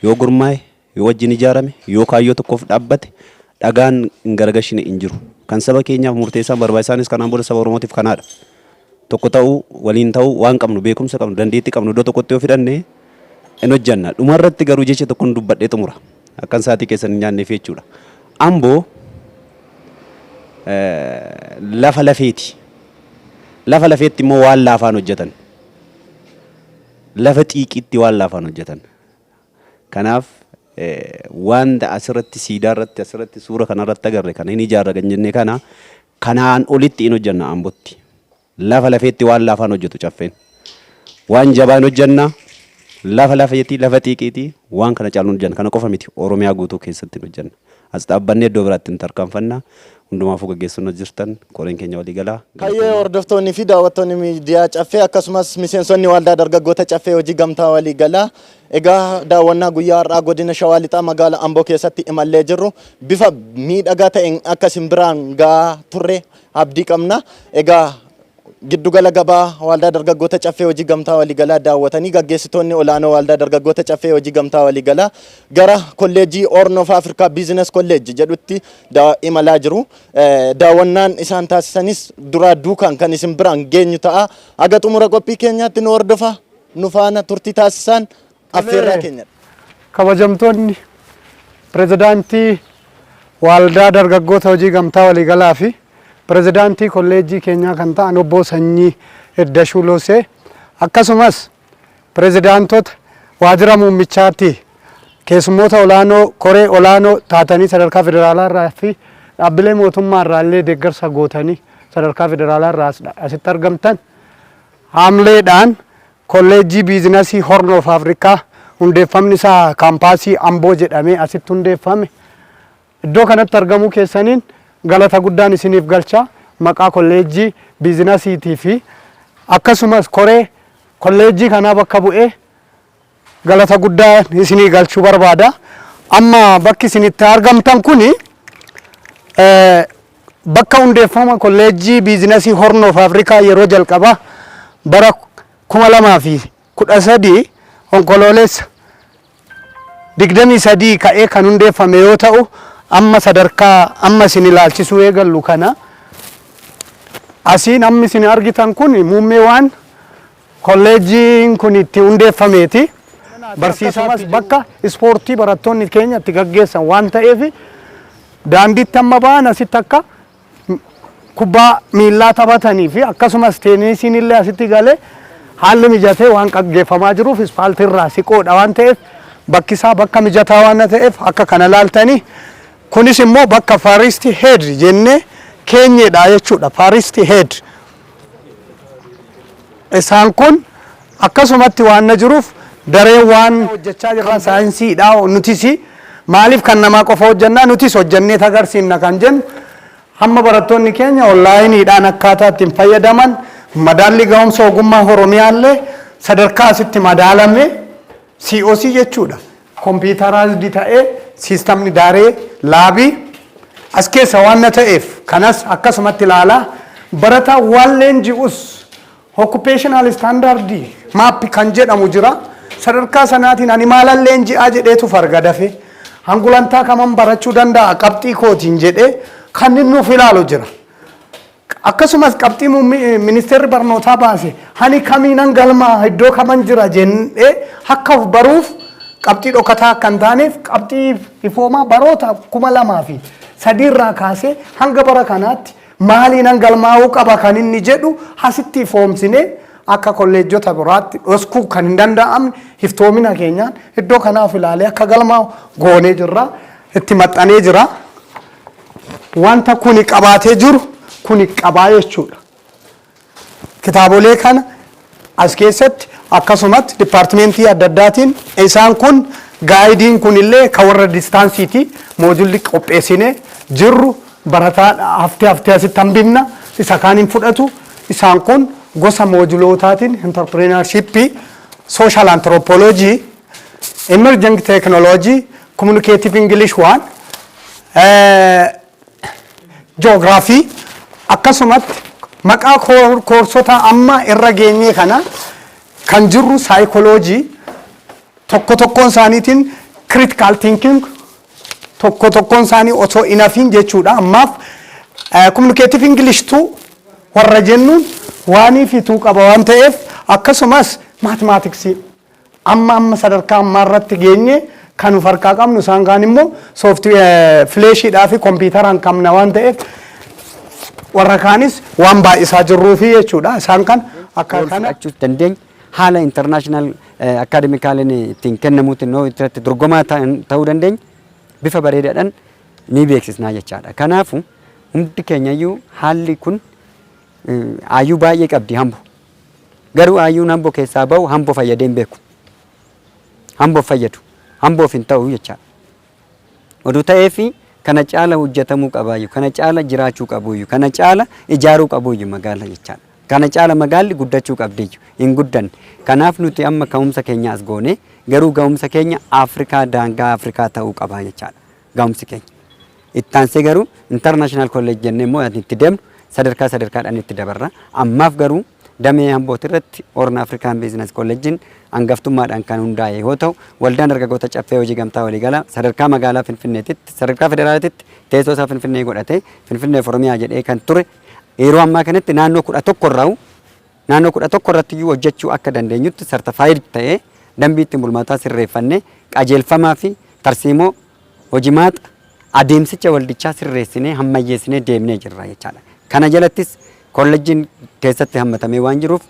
yoo gurmaa'e, yoo wajjin ijaarame, yoo kaayyoo tokkoof dhaabbate dhagaan hin garagashine hin jiru. Kan saba keenyaaf murteessaan barbaachisaanis kanaan booda saba Oromootiif kanaadha. Tokko ta'uu, waliin ta'uu, waan qabnu, beekumsa qabnu, dandeetti qabnu iddoo tokkotti yoo fidhanne in hojjanna. Dhuma irratti garuu jecha tokkon dubbadhee xumura. Akkan saatii keessan hin nyaanneef jechuudha. Ambo lafa lafeeti. Lafa lafeetti immoo waan laafaan hojjatan. Lafa xiiqiitti waan laafaan hojjatan. Kanaaf wanta asirratti siidaa irratti asirratti suura kanarratti agarre kana hin ijaarra kan jenne kana Kanaan olitti in hojjenna Ambotti. Lafa lafeetti waan laafaan hojjetu Caffeen. Waan jabaa in hojjenna. Lafa lafeetii, lafa xiiqiitii waan kana caalu in hojjenna. Kana qofa miti Oromiyaa guutuu keessatti in hojjenna. As dhaabbannee iddoo biraatti in tarkaanfanna. Hundumaafuu gaggeessonni jirtan koreen keenya walii galaa. Hayyee hordoftoonni fi daawwattoonni miidiyaa Caffee akkasumas miseensonni Waaldaa Dargaggoota Caffee Hojii Gamtaa Walii Galaa Egaa daawwannaa guyyaa har'aa godina Shawaa Lixaa magaala Amboo keessatti imallee jirru bifa miidhagaa ta'een akka isin biraan ga'aa turre abdii qabna. Egaa giddugala gabaa Waaldaa Dargaggoota Caffee Hojii Gamtaa Waliigalaa daawwatanii gaggeessitoonni olaanoo Waaldaa Dargaggoota Caffee Hojii Gamtaa Waliigalaa gara kolleejjii Horn of Africa Business College jedhutti da- imalaa jiru. Eh, Daawwannaan isaan taasisanis duraa duukaan kan isin biraan geenyu ta'a. Haga xumura qophii keenyaatti nu hordofaa. nu faana turtii taasisaan affeerraa keenya. Kabajamtoonni pirezidaantii Waaldaa Dargaggoota Hojii Gamtaa Waliigalaa fi pirezidaantii kolleejjii keenyaa kan ta'an obbo Sanyii Iddashuu Loosee akkasumas pirezidaantota waajjira muummichaatti keessummoota olaanoo koree olaanoo taatanii sadarkaa federaalaa irraa fi dhaabbilee mootummaa irraa illee deeggarsa gootanii sadarkaa federaalaa irraa asitti argamtan Haamleedhaan Kolleejjii Biizinasii Horn of Africa hundeeffamni isaa Kaampaasii Amboo jedhamee asitti hundeeffame. Iddoo kanatti argamuu keessaniin galata guddaan isiniif galcha. Maqaa Kolleejjii Biizinasiitii fi akkasumas koree Kolleejjii kanaa bakka bu'ee galata guddaa isinii galchuu barbaada. Amma bakki isin itti argamtan kun bakka hundeeffama kolleejjii biizinasii Hornoof Afrikaa yeroo jalqabaa bara 2013 onkoloolessa 23 ka'ee kan hundeeffame yoo ta'u amma sadarkaa amma isin ilaalchisuu eegallu kana asiin amma isin argitan kun muummeewaan Kolleejjiin kun itti hundeeffameeti. Barsiisaa Akkasumas itti bakka ispoortii barattoonni keenya itti gaggeessan waan ta'eef daandiitti amma ba'an asitti akka m- kubbaa miillaa taphatanii fi akkasumas teenisiin illee asitti galee haalli mijatee waan gaggeeffamaa jiruuf ispaaltii irraa siqoodha waan ta'eef bakki isaa bakka mijataa waan ta'eef akka kana laaltanii kunis immoo bakka faaristi heed jennee keenyedha jechuudha faaristi heed Isaan kun akkasumatti waan na jiruuf dareen waan hojjechaa jirran saayinsiidha nutis maaliif kan namaa qofa hojjannaa nutis hojjannee tagarsiifna kan jennu hamma barattoonni keenya onlaayiniidhaan akkaataa ittiin fayyadaman madaallii gahumsa ogummaa Oromiyaallee sadarkaa asitti madaalame COC jechuudha. computerized ta'e systemni daaree laabii as keessa waan na ta'eef kanas akkasumatti ilaalaa barataa waan leenji'us occupational standard map kan jedhamu jira sadarkaa sanaatiin ani maalan leenji'aa jedheetu farga dafe hangulantaa kaman barachuu danda'a qabxii kootiin jedhee kan inni nuuf ilaalu jira. Akkasumas qabxii ministeerri barnootaa baase hani kamiinan galmaa'a iddoo kaman jira jennee akka of baruuf qabxii dhokataa akka hin taaneef qabxii ifoomaa baroota kuma lamaa fi sadii irraa kaasee hanga bara kanaatti maaliinan galmaa'uu qaba kan inni jedhu hasitti ifoomsinee akka kolleejjota biraatti dhoskuu kan hin danda'amne iftoomina keenyaan iddoo kanaaf ilaalee akka galmaa'u goonee jirra itti maxxanee jira. wanta kuni qabaatee jiru kuni qabaa jechuudha. Kitaabolee kana as keessatti akkasumatti dipaartimentii adda addaatiin isaan kun gaayidiin kunillee ka warra distaansiiti moojulli qopheessine jirru barataa haftee haftee asitti hambifna isa kaan hin fudhatu isaan kun gosa moojulootaatiin intarpireenarshippii sooshaal antiroopooloojii Emerging Technology, Communicative English 1, Geography, akkasumatti maqaa koorsota amma irra geenyee kana kan jirru psychology tokko tokkoon isaaniitiin critical thinking tokko tokkoon isaanii osoo hin hafiin jechuudha. Ammaaf communicative English tu warra jennuun waanii fituu qaba waan ta'eef akkasumas mathematics Amma amma sadarkaa ammaa irratti geenye kan nuf harkaa qabnu isaan kaan immoo software fileeshiidhaa fi kompiitaraan qabna waan ta'eef warra kaanis waan baay'isaa jirruu fi jechuudha isaan kan akka Wal kana fudhachuus dandeenya. Haala international akaademikaaliin ittiin kennamuutiin yoo irratti dorgomaa ta'an- ta'uu dandeenya. Bifa bareedaadhaan ni beeksisnaa jechaadha. Kanaafuu hundi keenyayyuu haalli kun eh, aayyuu baay'ee qabdi hambu. Garuu Ayyuun Ambo keessaa bahu Hambo fayyadee hin beeku. Hambo hin fayyadu. Hamboof hin ta'u jechaa. Oduu ta'eefi kana caala hojjetamuu qabaayyu, kana caala jiraachuu qabuuyyu, kana caala ijaaruu qabuuyyu magaala jechaa. Kana caala magaalli guddachuu qabdiyyu. Hin guddanne. Kanaaf nuti amma ka'umsa keenya as goone, garuu ga'umsa keenya Afrikaa daangaa Afrikaa ta'uu qaba jechaadha. gahumsi keenya. Itti aansee garuu international college jennee immoo yaadni itti deemnu sadarkaa sadarkaadhaan itti dabarra. Ammaaf garuu damee Ambooti irratti Horn African Business College'n hangaftummaadhaan kan hundaa'e yoo ta'u, waldaan dargaggoota caffee hojii gamtaa waliigalaa sadarkaa magaalaa Finfinneetitti, sadarkaa federaalaatitti teessoo isaa Finfinnee godhatee Finfinnee fi Oromiyaa jedhee kan ture yeroo ammaa kanatti naannoo 11 irraa Naannoo 11 irratti iyyuu hojjechuu akka dandeenyutti certified ta'ee dambii ittiin bulmaataa sirreeffannee qajeelfamaa fi tarsiimoo hojimaata adeemsicha waldichaa sirreessinee hammayyeessinee deemnee jirra jechaa dha. Kana jalattis kollejjiin keessatti hammatamee waan jiruuf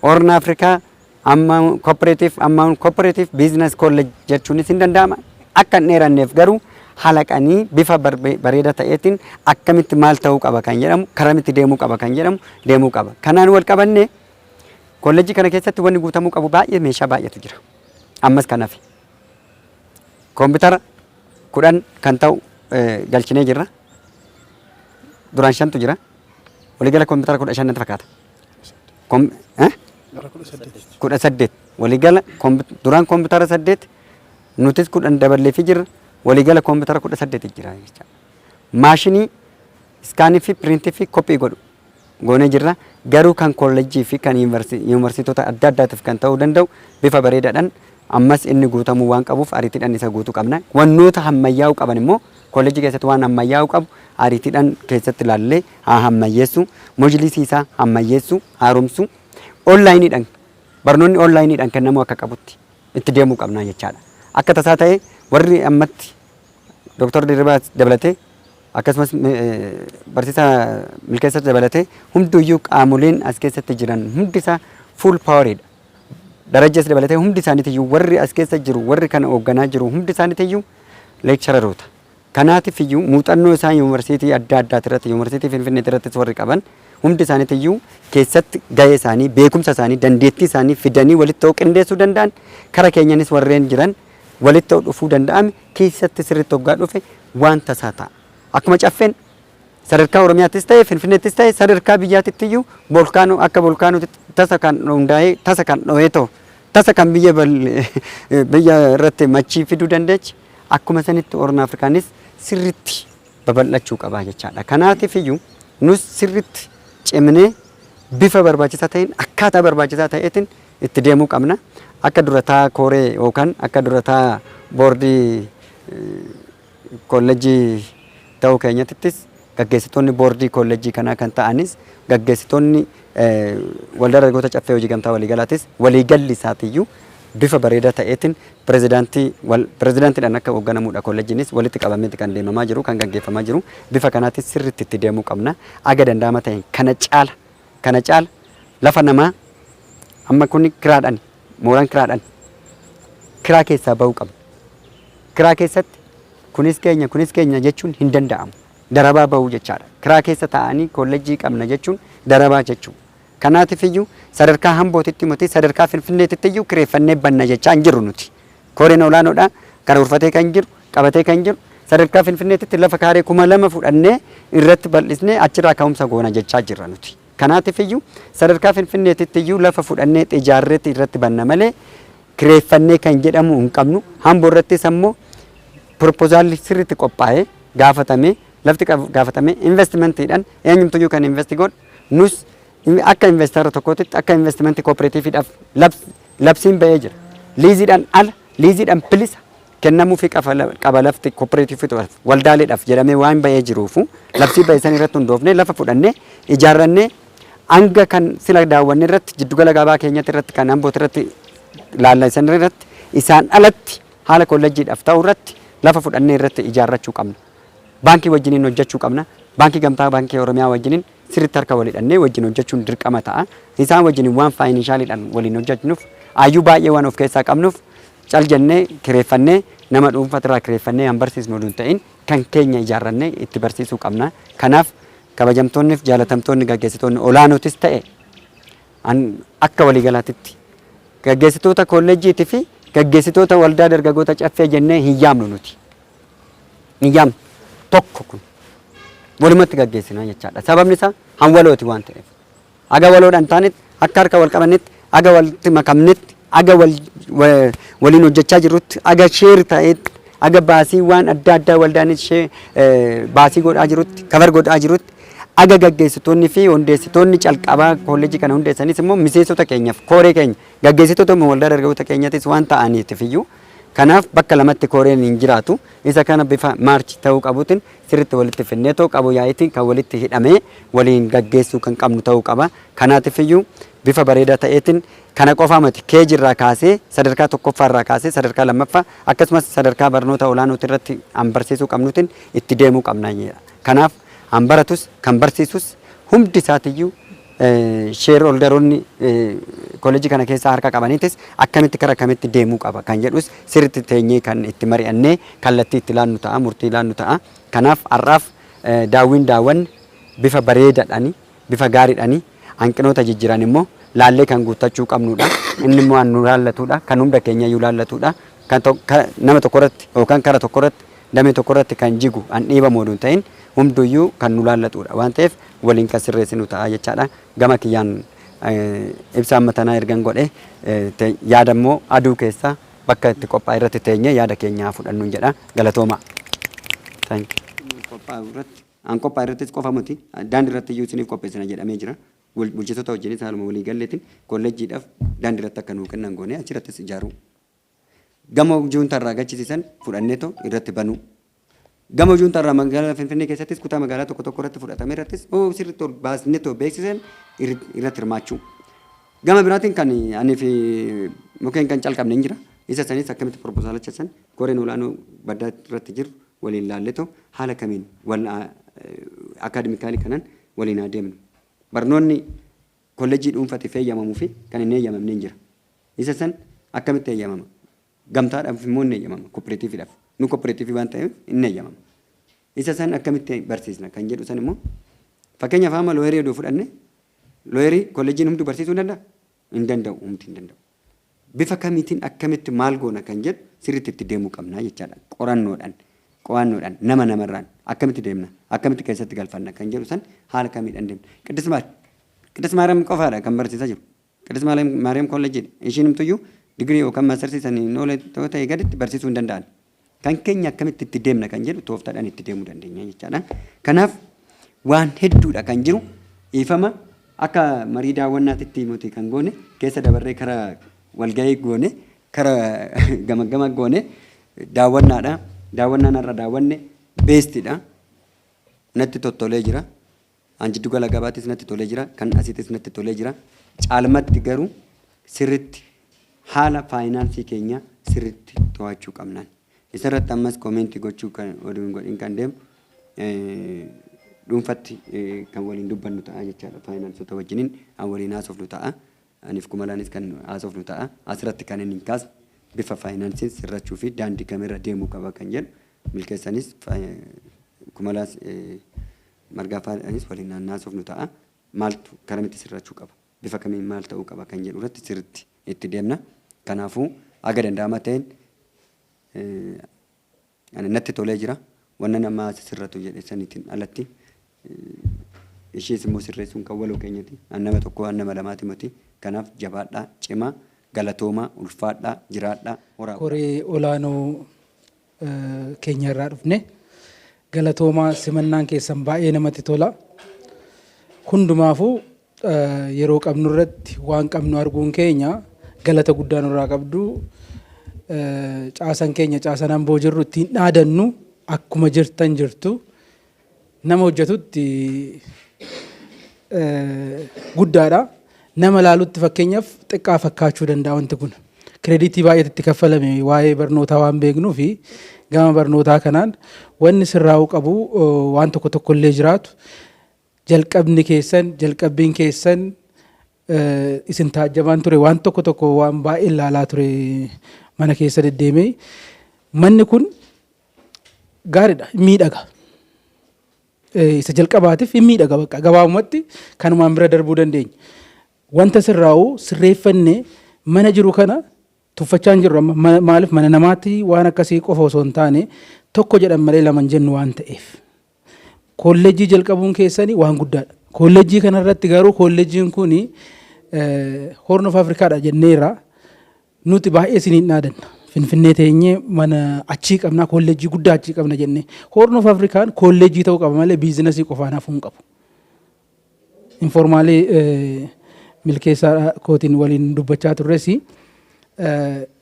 Horn Africa Amount Cooperative Amount Cooperative Business College jechuunis hin danda'ama. Akka hin dheeranneef garuu halaqanii bifa bareeda ta'eetiin akkamitti maal ta'uu qaba kan jedhamu karamitti deemuu qaba kan jedhamu deemuu qaba. Kanaan wal qabannee kollejjii kana keessatti wanni guutamuu qabu baay'ee meeshaa baay'eetu jira. Ammas kan hafe. Koompitara kudhan kan ta'u galchinee jirra. Duraan shantu jira. Waliigala koompitara kudha shan natti fakkaata. Kudha saddeet. Waliigala duraan koompitara saddeet Nutis 10 daballeefii jirra. Waliigala koompitara 18 jira jechaadha. Maashinii iskaanii fi piriintii fi kophii godhu goonee jirra. Garuu kan kollejjii fi kan yuunivarsiitota adda addaatiif kan ta'uu danda'u bifa bareedaadhaan ammas inni guutamuu waan qabuuf ariitiidhaan isa guutuu qabna. Wannoota hammayyaa'uu qaban immoo kollejjii keessatti waan hammayyaa'uu qabu ariitiidhaan keessatti ilaallee haa hammayyeessuu, mojliisii isaa hammayyeessuu, haaromsuu, onlaayiniidhaan barnoonni onlaayiniidhaan kennamuu akka qabutti itti deemuu qabna jechaadha. Akka tasaa ta'ee warri ammatti Doktar Dirribaa dabalatee akkasumas barsiisaa Milkeessas dabalatee hunduyyuu qaamoleen as keessatti jiran hundi isaa full poweridha. Darajjas dabalatee hundi isaaniitiyyuu warri as keessa jiru warri kana hoogganaa jiru hundi isaaniitiyyuu leekchararoota. Kanaatiif iyyuu muuxannoo isaan Yuunivarsiitii adda addaati irratti, Yuunivarsiitii Finfinneeti irrattis warri qaban hundi isaaniiti iyyuu keessatti gahee isaanii, beekumsa isaanii, dandeettii isaanii fidanii walitti ta'uu qindeessuu danda'an, kara keenyanis warreen jiran walitti ta'uu dhufuu danda'ame keessatti sirriitti hoggaa dhufe waan tasaa ta'a. Akkuma Caffeen sadarkaa Oromiyaattis ta'e, Finfinneettis ta'e sadarkaa biyyaatitti iyyuu bolkaanoo akka bolkaanootti tasa kan hundaa'ee, tasa kan dhohee ta'u, tasa kan biyya bal biyya irratti machii fiduu dandeechi. Akkuma sanitti Horn Afrikaanis sirritti babal'achuu qaba jechaadha. Kanaatiif iyyuu nus sirritti cimnee bifa barbaachisaa ta'een akkaataa barbaachisaa ta'eetiin itti deemuu qabna. Akka durataa kooree yookaan akka durataa boordii eh, kollejjii ta'uu keenyattis Gaggeessitoonni boordii koollejjii kanaa kan ta'anis gaggeessitoonni Waldaa Dargaggoota Caffee Hojii Gamtaa Waliigalaatis waliigalli isaatiyyuu bifa bareedaa ta'eetiin pirezidaantii wal pirezidaantiidhaan akka hoogganamuudha koollejjiinis walitti qabameeti kan deemamaa jiru kan gaggeeffamaa jiru bifa kanaatiin sirriitti itti deemuu qabna haga danda'ama ta'een kana caala kana caala lafa namaa amma kuni kiraadhani Mooraan kiraadhan kiraa keessaa ba'uu qabna. Kiraa keessatti kunis keenya kunis keenya jechuun hin danda'amu. Darabaa ba'uu jechaadha. Kiraa keessa taa'anii kollejjii qabna jechuun darabaa jechuu. Kanaatiif iyyuu sadarkaa hambootitti miti sadarkaa finfinneetitti iyyuu kireeffannee banna jechaa hin jirru nuti. Koreen olaanoodhaa karoorfatee kan jiru qabatee kan jiru sadarkaa finfinneetitti lafa kaaree kuma lama fudhannee irratti bal'isnee achirraa ka'umsa goona jechaa jirra nuti. Kanaatiif iyyuu sadarkaa Finfinneetitti iyyuu lafa fudhannee ijaarreeti irratti banna malee kireeffannee kan jedhamu hin qabnu. Hambo irrattis ammoo proposaalli sirriitti qophaa'ee gaafatamee lafti gaafatamee investimentiidhaan eenyumtu iyyuu kan investi godhu nus akka investara tokkootitti akka investimenti kooperatiifiidhaaf labsiin ba'ee jira. Liiziidhaan ala liiziidhaan bilisa kennamufi qaba lafti koperatiifotaf, waldaaleedhaf, jedhamee waan ba'ee jiruufu labsii ba'e san irratti hundoofnee lafa fudhannee ijaarrannee hanga kan sila daawwanne irratti jiddu gala gabaa keenyatti irratti kan Ambooti irratti laalla isan irratti isaan alatti haala kollejjiidhaf ta'u irratti lafa fudhannee irratti ijaarrachuu qabna. Baankii wajjiniin hojjechuu qabna. Baankii Gamtaa Baankii Oromiyaa wajjiniin sirriitti harka wal hidhannee wajjin hojjechuun dirqama ta'a. Isaan wajjiniin waan faayininshaaliidhaan waliin hojjechnuuf aayyuu baay'ee waan of keessaa qabnuuf Cal jennee kireeffannee nama dhuunfatirraa kireeffannee kan barsiisnu oduu hin ta'in kan keenya ijaarrannee itti barsiisuu qabna. Kanaaf kabajamtoonniif jaalatamtoonni gaggeessitoonni olaanootis ta'e an akka waliigalaatitti gaggeessitoota koolleejjiitii fi gaggeessitoota waldaa dargagoota caffee jennee hin yaamnu nuti. Hin yaamnu. Tokko kun. Walumatti gaggeessinaa jechaadha. Sababni isaa han walooti waan ta'eef. Haga waloodhaan taanetti, akka harka wal qabannetti, haga walitti makamnetti, haga waliin hojjechaa jirrutti, haga share ta'etti, haga baasiiwwaan adda addaa waldaan baasii godhaa jirutti, cover godhaa jirutti, haga gaggeessitoonni fi hundeessitoonni calqabaa koolleejii kana hundeessanis immoo miseensota keenyaaf kooree keenya gaggeessitoota immoo waldaa dargaggoota keenyatis waan ta'aniitiif iyyuu kanaaf bakka lamatti kooreen hin jiraatu. Isa kana bifa maarchi ta'uu qabuutiin sirritti walitti finneetoo qaboo yaa'iitiin kan walitti hidhamee waliin gaggeessuu kan qabnu ta'uu qaba. Kanaatifiyyuu bifa bareedaa ta'eetiin kana qofaa mati KG irraa kaasee sadarkaa tokkoffaa irraa kaasee sadarkaa lammaffaa akkasumas sadarkaa barnoota olaanooti irratti an barsiisuu qabnuutiin itti deemuu qabna. Kanaaf an baratus kan barsiisus hundi isaatiyyuu Sheerholdaroonni koollejjii kana keessaa harka qabanitis akkamitti kara kamitti deemuu qaba kan jedhus sirriitti teenyee kan itti mari'annee kallattii itti laannu ta'a, murtii laannu ta'a. Kanaaf har'aaf daawwiin daawwanne bifa bareedadhani, bifa gaaridhani, hanqinoota jijjiran immoo laallee kan guuttachuu qabnudha. Inni immoo an nu laallatudha, kan hunda keenyayyuu laallatudha. Kan nama tokkorratti yookaan kara tokkorratti damee tokko irratti kan jigu, kan dhiibamu oduu hin ta'in hunduu iyyuu kan nu laallatu dha. Waan ta'eef waliin kan sirreessinu ta'a jechaa dha. Gama kiyyaan ibsa amma tanaa ergan godhe yaada immoo aduu keessa bakka itti qophaa'e irratti teenyee yaada keenya haa fudhannuun jedha. Galatoomaa. Thank you. qophaa'u irratti an qophaa'e irrattis qofa miti daandii irratti iyyuu isiniif qopheessina jedhamee jira. Bul- Bulchitoota wajjinis haaluma walii galleetiin kolleejjiidhaaf daandii irratti akka nuu kennan goonee achi irrattis ijaaruu Gamoo juuntaa irraa gachisiisan fudhanneetoo irratti banuu. Gamoo juuntaa irraa magaalaa Finfinnee keessattis kutaa magaalaa tokko tokko irratti fudhatame irrattis oo sirriitti ol baasneetoo beeksiseen irratti hirmaachuu. Gama biraatiin kan anii fi mukeen kan calqabne hin jira. Isa sanis akkamitti proposalacha san koreen olaanoo baddaa irratti jiru waliin laalletoo haala kamiin wal akaadimikaalii kanan waliin haa deemnu. Barnoonni Kollejjii dhuunfatiif heeyyamamuu fi kan hin heeyyamamneen jira. Isa san akkamitti heeyyamama? Gamtaadhaaf immoo hin heeyyamama, kopperatiiviidhaaf. Nu kopperatiivii waan ta'eef hin heeyyamama. Isa san akkamitti barsiisna kan jedhu san immoo fakkeenyaaf amma looyerii odoo fudhanne looyerii kollejjiin hunduu barsiisuu hin danda'a? Hin danda'u, humti hin danda'u. Bifa kamiitiin, akkamitti, maal goona kan jedhu sirriitti itti deemuu qabna jechaadha. Qorannoodhaan, qo'annoodhaan, nama namarraan akkamitti deemna, akkamitti keessatti galfanna kan jedhu san haala kamiidhaan deemna. Qiddist Maar. Qiddist Maariyaam qofaadha kan barsiisaa jiru. Qiddist Maariyaam Maariyaam Kolleejjiidha. Ishiinumtuyyuu digirii yookaan maastarsii saniin hin oole yoo ta'e gaditti barsiisuu hin danda'an. Kan keenya akkamitti itti deemna kan jedhu tooftaadhaan itti deemuu dandeenya jechaadha. Kanaaf waan hedduudha kan jiru dhiifama akka marii daawwannaatitti nuti kan goone keessa dabarree kara walgahii goone kara gamaggama goone daawwannaadha. Daawwannaan har'a daawwanne beestidha. Natti tottolee jira. An jiddu gala gabaattis natti tolee jira, kan asittis natti tolee jira. Caalmatti garuu sirritti haala faayinaansii keenya sirritti to'achuu qabnaan. Isarratti ammas koomeentii gochuu kan oduu hin godhin kan deemu dhuunfatti kan waliin dubbannu ta'a jechaadha. Faayinaansota wajjinin an waliin haasofnu ta'a. Aniif Kumalaanis kan haasofnu ta'a. Asirratti kanan hin kaasne bifa faayinaansiin sirrachuu fi daandii kamirra deemuu qaba kan jedhu Milkeessaanis Kumalaas Margaafaadhaanis waliin kan haasofnu ta'a. Maaltu karamitti sirrachuu qaba? Bifa kamiin maal ta'uu qaba kan jedhu irratti sirriitti itti deemna. Kanaafuu haga danda'ama ta'een Ani natti tolee jira. Wanna namaa sisirratu jedhe sanitin alatti ishiis immoo sirreessun kan waloo keenyati. An nama tokkoo an nama lamaati moti. Kanaaf jabaadhaa, cimaa, galatoomaa, ulfaadhaa, jiraadhaa, horaa bulaa. Koree olaanoo keenya irraa dhufne. Galatoomaa simannaan keessan baay'ee namatti tola. Hundumaafuu yeroo qabnu irratti waan qabnu arguun keenya galata guddaa nurraa qabdu. Caasan keenya caasan amboo jirru ittiin dhaadannu akkuma jirtan jirtu nama hojjetutti guddaadha. Nama laalutti fakkeenyaaf xiqqaa fakkaachuu danda'a wanti kun. Kireeditii baay'eetu itti kaffalame waa'ee barnootaa waan beeknuu fi gama barnootaa kanaan wanni sirraa'uu qabu waan tokko tokko illee jiraatu Jalqabni keessan, jalqabbiin keessan isin taajjabaan ture. Waan tokko tokko waan baay'een laalaa ture mana keessa deddeemee. Manni kun gaariidha, hin miidhaga. Isa jalqabaatiif hin miidhaga bakka gabaabumatti kanumaan bira darbuu dandeenya. Wanta sirraa'u sirreeffannee mana jiru kana tuffachaa hin jirru amma maaliif mana namaatti waan akkasii qofa osoo hin taane tokko jedhan malee lama hin jennu waan ta'eef. Koollejjii jalqabuun keessani waan guddaadha. Koollejjii kana irratti garuu koollejjiin kun Horn of Afrikaadha jenneerra. Nuti baay'ee isiniin dhaadanna. Finfinnee teenyee mana achii qabnaa koollejjii guddaa achii qabna jennee. Horn of Afrikaan koollejjii ta'uu qaba malee biizinasii qofaan hafuu hin qabu. Informaalii milkeessaa kootiin waliin dubbachaa turres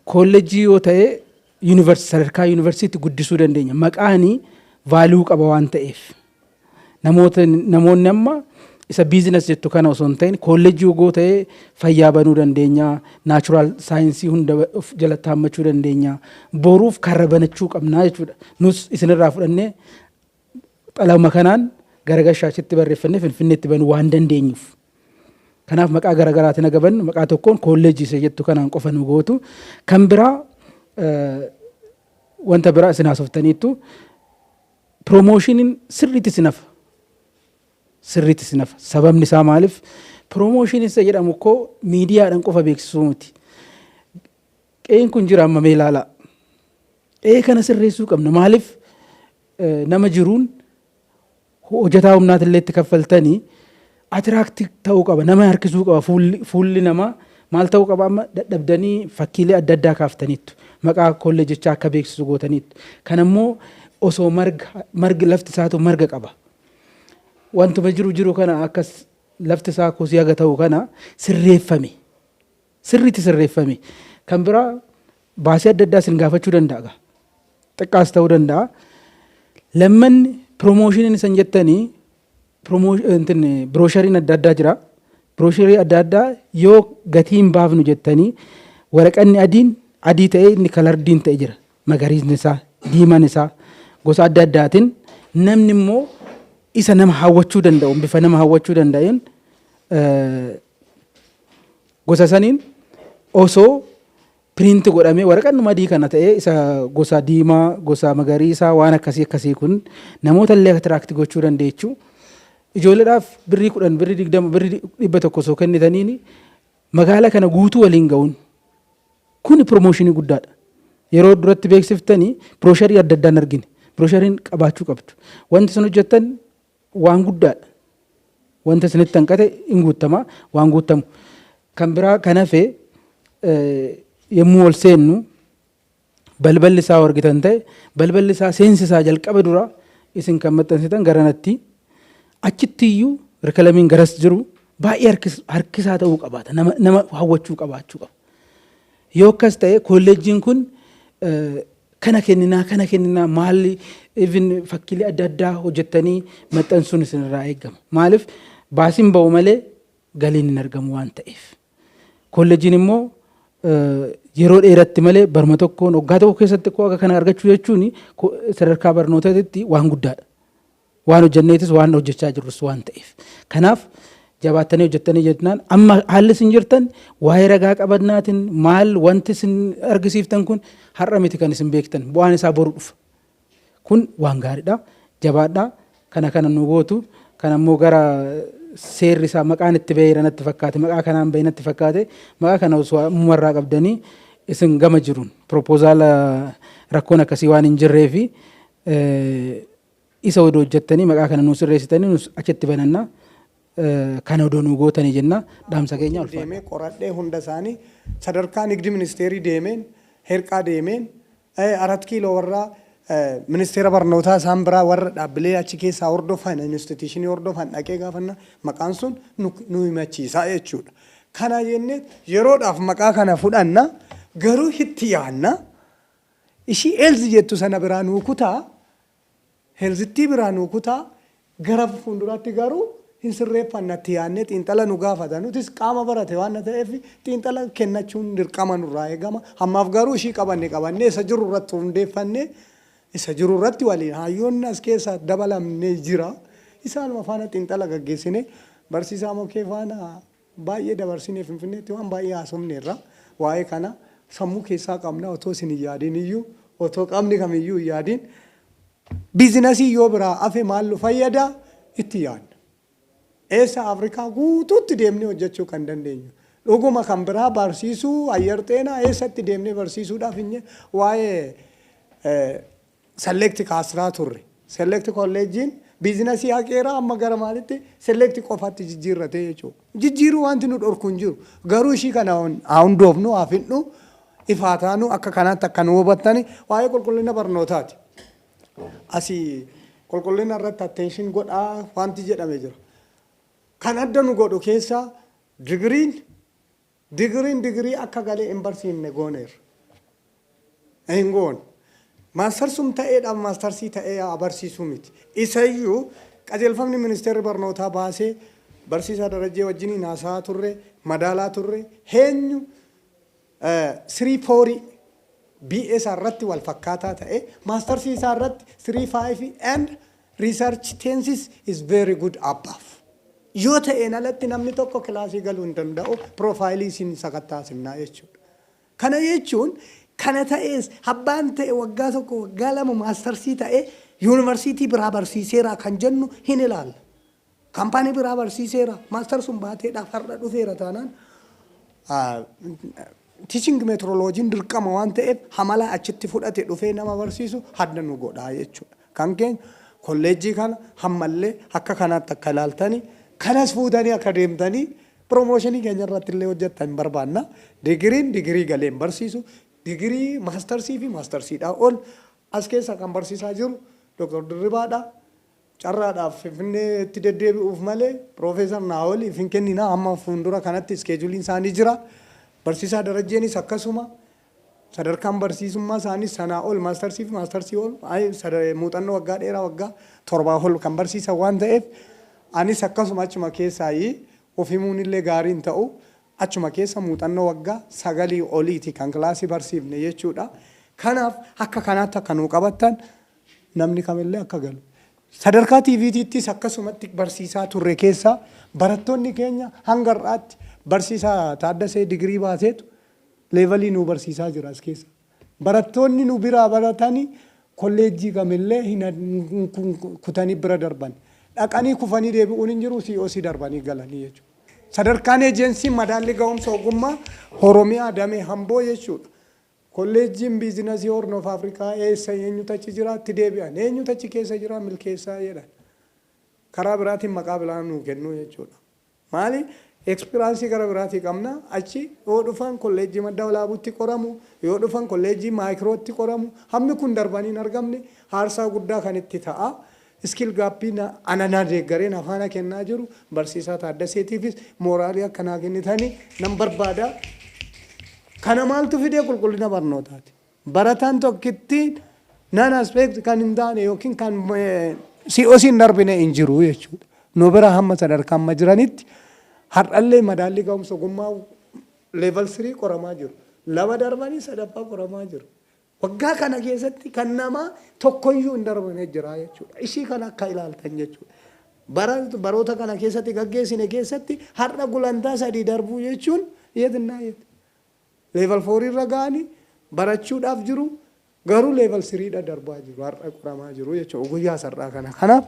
koollejjii yoo ta'e Yunivarsi sadarkaa yunivarsiitti guddisuu dandeenya. Maqaani value qaba waan ta'eef. Namoota namoonni amma isa business jettu kana osoo hin ta'in koolleejjii ogoo ta'ee fayyaa banuu dandeenya, natural saayinsii hunda of jalatti haammachuu dandeenya. Boruuf karra banachuu qabna jechuudha. Nus isinirraa fudhannee Xalayuma kanaan gara Gashaachitti barreeffannee Finfinneetti banuu waan dandeenyuuf. Kanaaf maqaa garaagaraatiin haga bannu maqaa tokkoon koolleejjii isa jettu kanaan qofa nu gootu. Kan biraa wanta biraa isin haasoftaniittu piroomooshiiniin sirriitti isin hafa. Sirriitti isin hafa. Sababni isaa maaliif? Piroomooshiiniin isa jedhamu koo miidiyaadhaan qofa beeksisuu miti. Qe'een kun jira amma mee ilaalaa. Qe'ee kana sirreessuu qabna. Maaliif nama jiruun hojjetaa humnaati illee itti kaffaltanii atiraakti ta'uu qaba. Nama harkisuu qaba. Fuulli namaa maal ta'uu qaba amma dadhabdanii fakkiilee adda addaa kaaftaniittu. Maqaa kolleejjichaa akka beeksisu gootaniittu. Kan ammoo osoo margi lafti isaatu marga qaba. Wantuma jiru jiru kana akkas lafti isaa kosii haga ta'u kana sirreeffame. sirriitti sirreeffame. Kan biraa baasii adda addaa isin gaafachuu danda'a gaa. Xiqqaas ta'uu danda'a. Lammanni piroomooshiiniin isin jettanii birooshariin adda addaa jira. Biroosharii adda addaa yoo gatii hin baafnu jettanii waraqanni adiin adii ta'ee inni kalardiin ta'e jira. Magariisni isaa, diimaan isaa gosa adda addaatiin namni immoo isa nama hawwachuu danda'u bifa nama hawwachuu danda'een Gosa saniin osoo print godhamee waraqannuma adii kana ta'ee isa gosa diimaa, gosa magariisaa waan akkasii akkasii kun namoota illee attract gochuu dandeechu. Ijoolleedhaaf birrii kudhan, birrii digdama, birrii dhibba tokko osoo kennitaniini magaala kana guutuu waliin ga'uun kuni promooshinii guddaadha. Yeroo duratti beeksiftanii piroosharii adda addaan argine. Pirooshariin qabaachuu qabdu. Wanti sun hojjettan waan guddaadha. Wanta isinitti hanqate in guuttama, waan guuttamu. Kan biraa kan hafe yommuu ol seennu balballi isaa yoo argitan ta'e balballi isaa seensi isaa jalqaba dura isin kan maxxansitan garanatti achitti iyyuu rikalamiin garas jiru baay'ee harkisaa ta'uu qabaata nama hawwachuu qabaachuu qaba. Yoo akkas ta'e koolleejjiin kun kana kenninaa kana kenninaa maalli even fakkiilee adda addaa hojjettanii maxxansuun isinirraa eegama. Maaliif baasiin ba'u malee galiin hin argamu waan ta'eef. Koolleejjiin immoo yeroo dheeratti malee baruma tokkoon waggaa tokko keessatti koo akka kana argachuu jechuun sadarkaa barnootaatitti waan guddaadha. Waan hojjenneetis waan hojjechaa jirrus waan ta'eef. Kanaaf jabaattanii hojjettanii jennaan amma haalli isin jirtan waa'ee ragaa qabannaatiin maal wanti isin argisiiftan kun har'a miti kan isin beektan bu'aan isaa boru dhufa. Kun waan gaariidha. Jabaadhaa kana kana nu gootu kan ammoo gara seerri isaa maqaan itti ba'eera natti fakkaate maqaa kanaan ba'e natti fakkaate maqaa kana osoo ammumarraa qabdanii isin gama jiruun piroopoozaala rakkoon akkasii waan hin jirree fi Isa odoo hojjattanii maqaa kana nuu sirreessitanii nus achitti bananna. Kana odoo nuu gootanii jenna. Dhaamsa keenya ulfaadha. deemee qoradhee hunda isaanii sadarkaa nigdi ministeerii deemeen herqaa deemeen arat kiiloo warra ministeera barnootaa isaan biraa warra dhaabbilee achi keessaa hordofan institiishinii hordofan dhaqee gaafannaan maqaan sun nu himachiisa jechuudha. Kana jennee yeroodhaaf maqaa kana fudhanna garuu itti yaadna. Ishii Elzi jettu sana biraa nuu kutaa Helzittii biraa nuu kutaa gara fuunduraatti garuu hin sirreeffanna itti yaadnee xiinxala nu gaafata nutis qaama barate waan ta'eef xiinxala kennachuun dirqama nurraa eegama hammaaf garuu ishii qabanne qabannee isa jiru irratti hundeeffannee isa jiru irratti waliin haayyoonni as keessa dabalamne jira isaanuma faana xiinxala gaggeessinee barsiisaa mokee faana Baay'ee dabarsinee Finfinneetti waan baay'ee haasofneerra. Waa'ee kana sammuu keessaa qabna otoo isin hin yaadiin iyyuu, otoo qamni kam iyyuu hin yaadiin biizinasiin yoo biraa hafe maal nu fayyada itti yaadna. Eessa Afrikaa guutuutti deemnee hojjechuu kan dandeenyu. Dhuguma kan biraa barsiisuu, Ayyar Xeenaa eessatti deemnee barsiisuudhaaf hin waa'ee select kaasraa turre. Select kolleejjiin biizinasii haqeera amma gara maalitti select qofatti jijjiirrate jechuudha. Jijjiiruu wanti nu dhorku hin jiru. Garuu ishii kana haa hundoofnu, haa fidnu, ifaa taanu akka kanaatti akka nu hubattani waa'ee qulqullina barnootaati. Asii qulqullina irratti attention godhaa wanti jedhame jira. Kan adda nu godhu keessaa digiriin Digriin digirii akka galee hin barsiifne gooneerra. Hin goone. Maastarsum ta'ee dhaaf maastarsii ta'ee haa barsiisuu miti. Isa iyyuu qajeelfamni ministeerri barnootaa baase barsiisaa Darajjee wajjiniin haasa'aa turre, madaalaa turre, heenyu Sirii Foorii BA isaa irratti wal fakkaataa ta'ee maastarsii isaa irratti Sirii Faayifi and Research tenses is very good above. Yoo ta'een alatti namni tokko kilaasii galuu hin danda'u, piroofaayilii isin sakattaasifnaa jechuudha. Kana jechuun kana ta'ees abbaan ta'e waggaa tokko waggaa lama maastarsii ta'ee yuunivarsiitii biraa barsiiseeraa kan jennu hin ilaalla. Kampaanii biraa barsiiseera. Master sun baateedhaaf har'a dhufeera taanaan teaching metroloojiin dirqama waan ta'eef hamala achitti fudhate dhufee nama barsiisu hadda nu godhaa jechuudha. Kan keenya kolleejjii kana hammallee akka kanaatti akka ilaaltanii kanas fuutanii akka deemtanii piroomooshinii keenya irratti illee hojjettan hin barbaanna. Digiriin digirii galee hin barsiisu. Digirii maastarsii fi maastarsiidhaa ol as keessa kan barsiisaa jiru Dr. Dirribaadha. Carraadhaaf Finfinnee tti deddeebi'uuf malee Piroofeesar Naa'oliif hin kenninaa hamma fuundura kanatti iskeejuliin isaanii jira. Barsiisaa Darajjeenis akkasuma. Sadarkaan barsiisummaa isaaniis sanaa ol maastarsii fi maastarsii ol muuxannoo waggaa dheeraa waggaa torbaa ol kan barsiisan waan ta'eef anis akkasuma achuma keessaayi of himuun illee gaarii hin ta'u. Achuma keessa muuxannoo waggaa sagalii oliiti kan kilaasii barsiifne jechuudha. Kanaaf akka kanaatti akka nuu qabattan Namni kamillee akka galu. Sadarkaa TVTttis akkasumatti barsiisaa turre keessaa barattoonni keenya hanga har'aatti barsiisaa Taaddasee digirii baaseetu leevalii nuu barsiisaa jira as keessa. Barattoonni nu biraa baratanii kolleejjii kamillee hin kutanii bira darban. Dhaqanii kufanii deebi'uun hin jiru COC darbanii galanii jechuudha. Sadarkaan Eejensiin Madaallii Gahumsa Ogummaa Oromiyaa Damee Amboo jechuudha. Kolleejjiin Biizinasii Horn of Africa eessa, eenyutu achi jira, itti deebi'an, eenyutu achi keessa jira, milkeessaa jedhan. Karaa biraatiin maqaa biraa nuu kennuu jechuudha. Maali? Ekspiraansii gara biraatii qabna. Achi yoo dhufan Kolleejjii Madda Walaabuutti qoramu, yoo dhufan Kolleejjii Maayikirootti qoramu. Hammi kun darbanii hin argamne, aarsaa guddaa kan itti ta'a. Skill Gap'n ana na deeggaree na faana kennaa jiru barsiisaa Taaddaseetiifis mooraalii akka naa kennitan nan barbaada. Kana maaltu fide qulqullina barnootaati. Barataan tokkittiin non aspect kan hin taane yookiin kan COC hin darbine hin jiru jechuudha. Nu bira hamma sadarkaa amma jiranitti har'allee madaallii ga'umsa ogummaa level 3 qoramaa jiru. Lama darbanii sadaffaa qoramaa jiru. Waggaa kana keessatti kan namaa tokkoyyuu hin darbane jira jechuudha. Ishii kana akka ilaaltan jechuudha. Bara baroota kana keessatti gaggeessine keessatti har'a gulantaa sadii darbuu jechuun yeednaa yeed. Level 4 irra ga'anii barachuudhaaf jiru garuu level 3 dha darbaa jiru har'a qoramaa jiru jechuudha guyyaa sar'aa kana. Kanaaf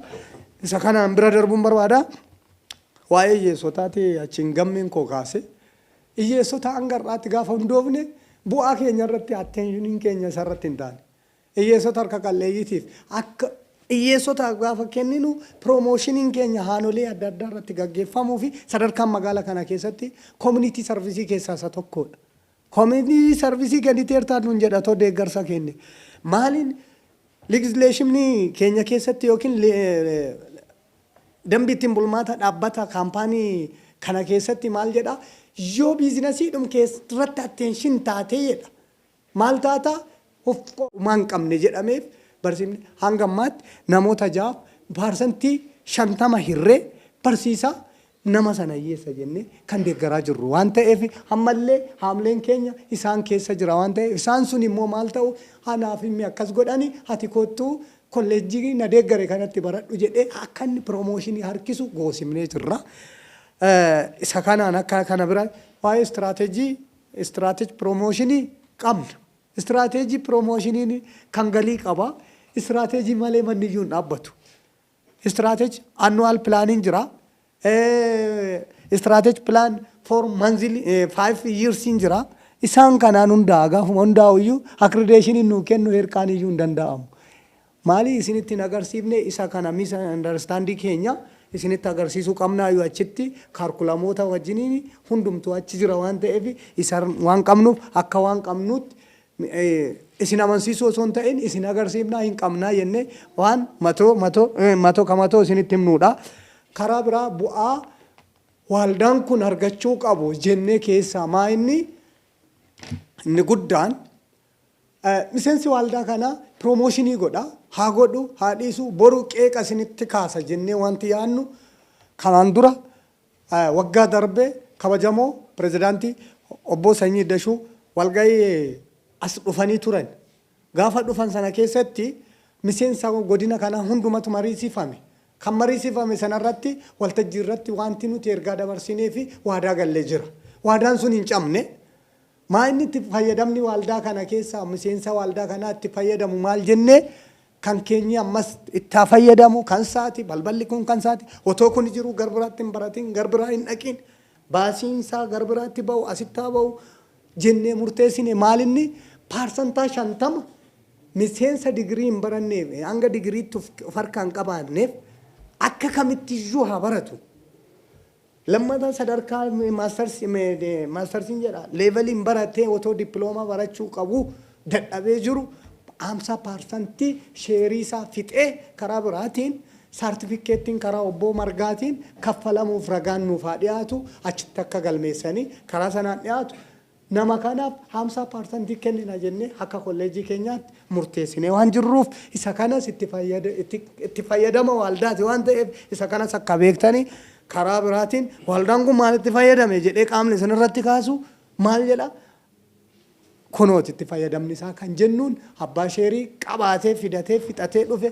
isa kanaan bira darbuun barbaada. Waa'ee hiyyeessotaati achiin gammiin koo kaase Hiyyeessota hanga har'aatti gaafa hundoofne bu'aa keenya irratti attention keenya isa irratti hin taane. Hiyyeessota harka qal'eeyyiitiif akka hiyyeessotaaf gaafa kenninu promotion keenya haanolee adda addaa irratti gaggeeffamuu fi sadarkaan magaala kana keessatti community service keessaa isa tokkodha. Community service kenniteertaa nuun jedha otoo deeggarsa kenne. Maaliin legislation keenya keessatti yookiin Dambi ittin bulmaata dhaabbata, kaampaanii, kana keessatti maal jedha? Yoo biizinasiidhum kee irratti attention taatee jedha. Maal taata? Of homaa hin qabne jedhameef barsiifni hanga ammaatti namoota 6'f parsantii 50 hirree barsiisaa Nama sana hiyyeessa jennee kan deeggaraa jirru waan ta'eef ammallee haamleen keenya isaan keessa jira waan ta'eef isaan sun immoo maal ta'u anaaf himmi akkas godhani ati koottu kolleejjii na deeggare kanatti baradhu jedhee akka inni promotion harkisu goosifnee jirra. Isa kanaan akka kana bira waa'ee strategy strategy promotion qabna. Strategy promotion kan galii qaba. Strategy malee manni iyyuu hin dhaabbatu. Strategy annual planning jira. Eh, strategy plan for monthly eh, five years hin jira. Isaan kanaan hundaa gaafuma hundaa'u iyyuu accreditation nuu kennu hirkaan iyyuu hin danda'amu. Maali isinitti hin agarsiifne isa kana misunderstanding keenya isinitti agarsiisuu qabnaa yoo achitti kaarkulamoota wajjiniin hundumtuu achi jira waan ta'eef isa waan qabnuuf akka waan qabnuutti isin amansiisuu osoo hin ta'in isin agarsiifnaa hin qabnaa jennee waan matoo matoo matoo ka matoo isinitti himnuudha. Karaa biraa bu'aa waaldaan kun argachuu qabu jennee keessaa maa inni inni guddaan miseensi waaldaa kana piroomooshinii godha haa godhu haa dhiisu boru qeeqa isinitti kaasa jennee wanti yaannu kanaan dura waggaa darbe kabajamoo pirezidaantii obboo Sanyii Dashuu walgahii as dhufanii turan. Gaafa dhufan sana keessatti miseensa godina kanaa hundumatu mariisifame. Kan mariisifame sana irratti waltajjii irratti waanti nuti ergaa dabarsinee fi waadaa galle jira. Waadaan sun hin cabne. Maa inni itti fayyadamni waaldaa kana keessaa miseensa waaldaa kanaa itti fayyadamu maal jennee kan keenyi ammas itti haa fayyadamu kan isaati balballi kun kan isaati otoo kuni jiru gar biraatti hin baratiin gar biraa hin dhaqiin baasiin isaa gar biraatti ba'u asitti haa ba'u jennee murteessine maal inni paarsantaa shantama miseensa digirii hin baranneef hanga digiriitti of of harkaa hin qabaanneef akka kamittiyyuu haa baratu. Lammata sadarkaa maastarsiin jedha leeveliin baratee otoo dippiloomaa barachuu qabu dadhabee jiru 50% sheerii isaa fixee karaa biraatiin saartifikkeettiin karaa obboo Margaatiin kaffalamuuf ragaan nuuf haa dhiyaatu achitti akka galmeessanii karaa sanaan dhiyaatu Nama kanaaf 50% kennina jennee akka kolleejjii keenyaatti murteessinee waan jirruuf isa kanas itti fayyadama waaldaati waan ta'eef isa kanas akka beektanii karaa biraatiin waaldaan kun maal itti fayyadame jedhee qaamni isin irratti kaasu maal jedha kunooti itti fayyadamni isaa kan jennuun abbaa sheerii qabaatee fidatee fixatee dhufe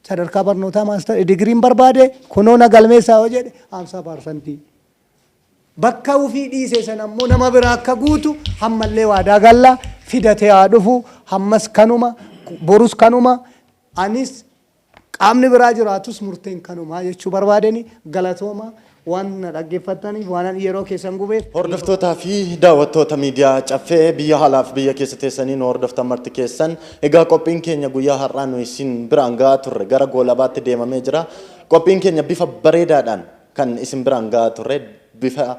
sadarkaa barnootaa maastar digiriin barbaade kunoo na galmeessaa yoo jedhe 50% Bakka ufii dhiise sana immoo nama biraa akka guutu hammallee waadaa galla, fidatee haa dhufu, hammas kanuma, borus kanuma, anis qaamni biraa jiraatus murteen kanuma jechuu barbaadeni. Galatoomaa waan na dhaggeeffattaniif, waanan yeroo keessan gubeef. Hordoftootaa fi daawwattoota miidiyaa Caffee biyya alaa fi biyya keessa teessanii nu hordoftan marti keessan, egaa qophiin keenya guyyaa har'aa nuyi isin biraan ga'aa turre gara goolabaatti deemamee jira. Qophiin keenya bifa bareedaadhaan Kan isin biraan ga'aa turre bifa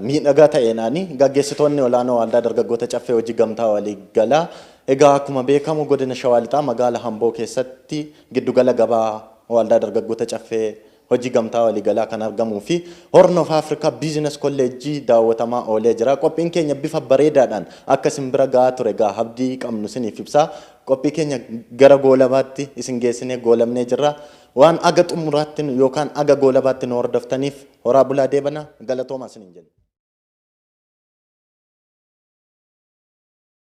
miidhagaa ta'eenaani. Gaggeessitoonni olaanoo Waaldaa Dargaggoota Caffee Hojii Gamtaa Walii Galaa Egaa akkuma beekamu Godina Shawaa Lixaa Magaala Hamboo keessatti giddu gala gabaa Waaldaa Dargaggoota Caffee Hojii Gamtaa Walii Galaa kan argamuu fi Horn of Africa Business College daawwatamaa oolee jira. Qophiin keenya bifa bareedaadhaan akka isin bira ga'aa ture egaa abdii qabnu isiniif ibsaa. Qophii keenya gara goolabaatti isin geessinee goolabnee jirra. Waan haga xumuraatti yookaan haga goolabaatti nu hordoftaniif horaa bulaa deebanaa galatoomaa isiniin jenna.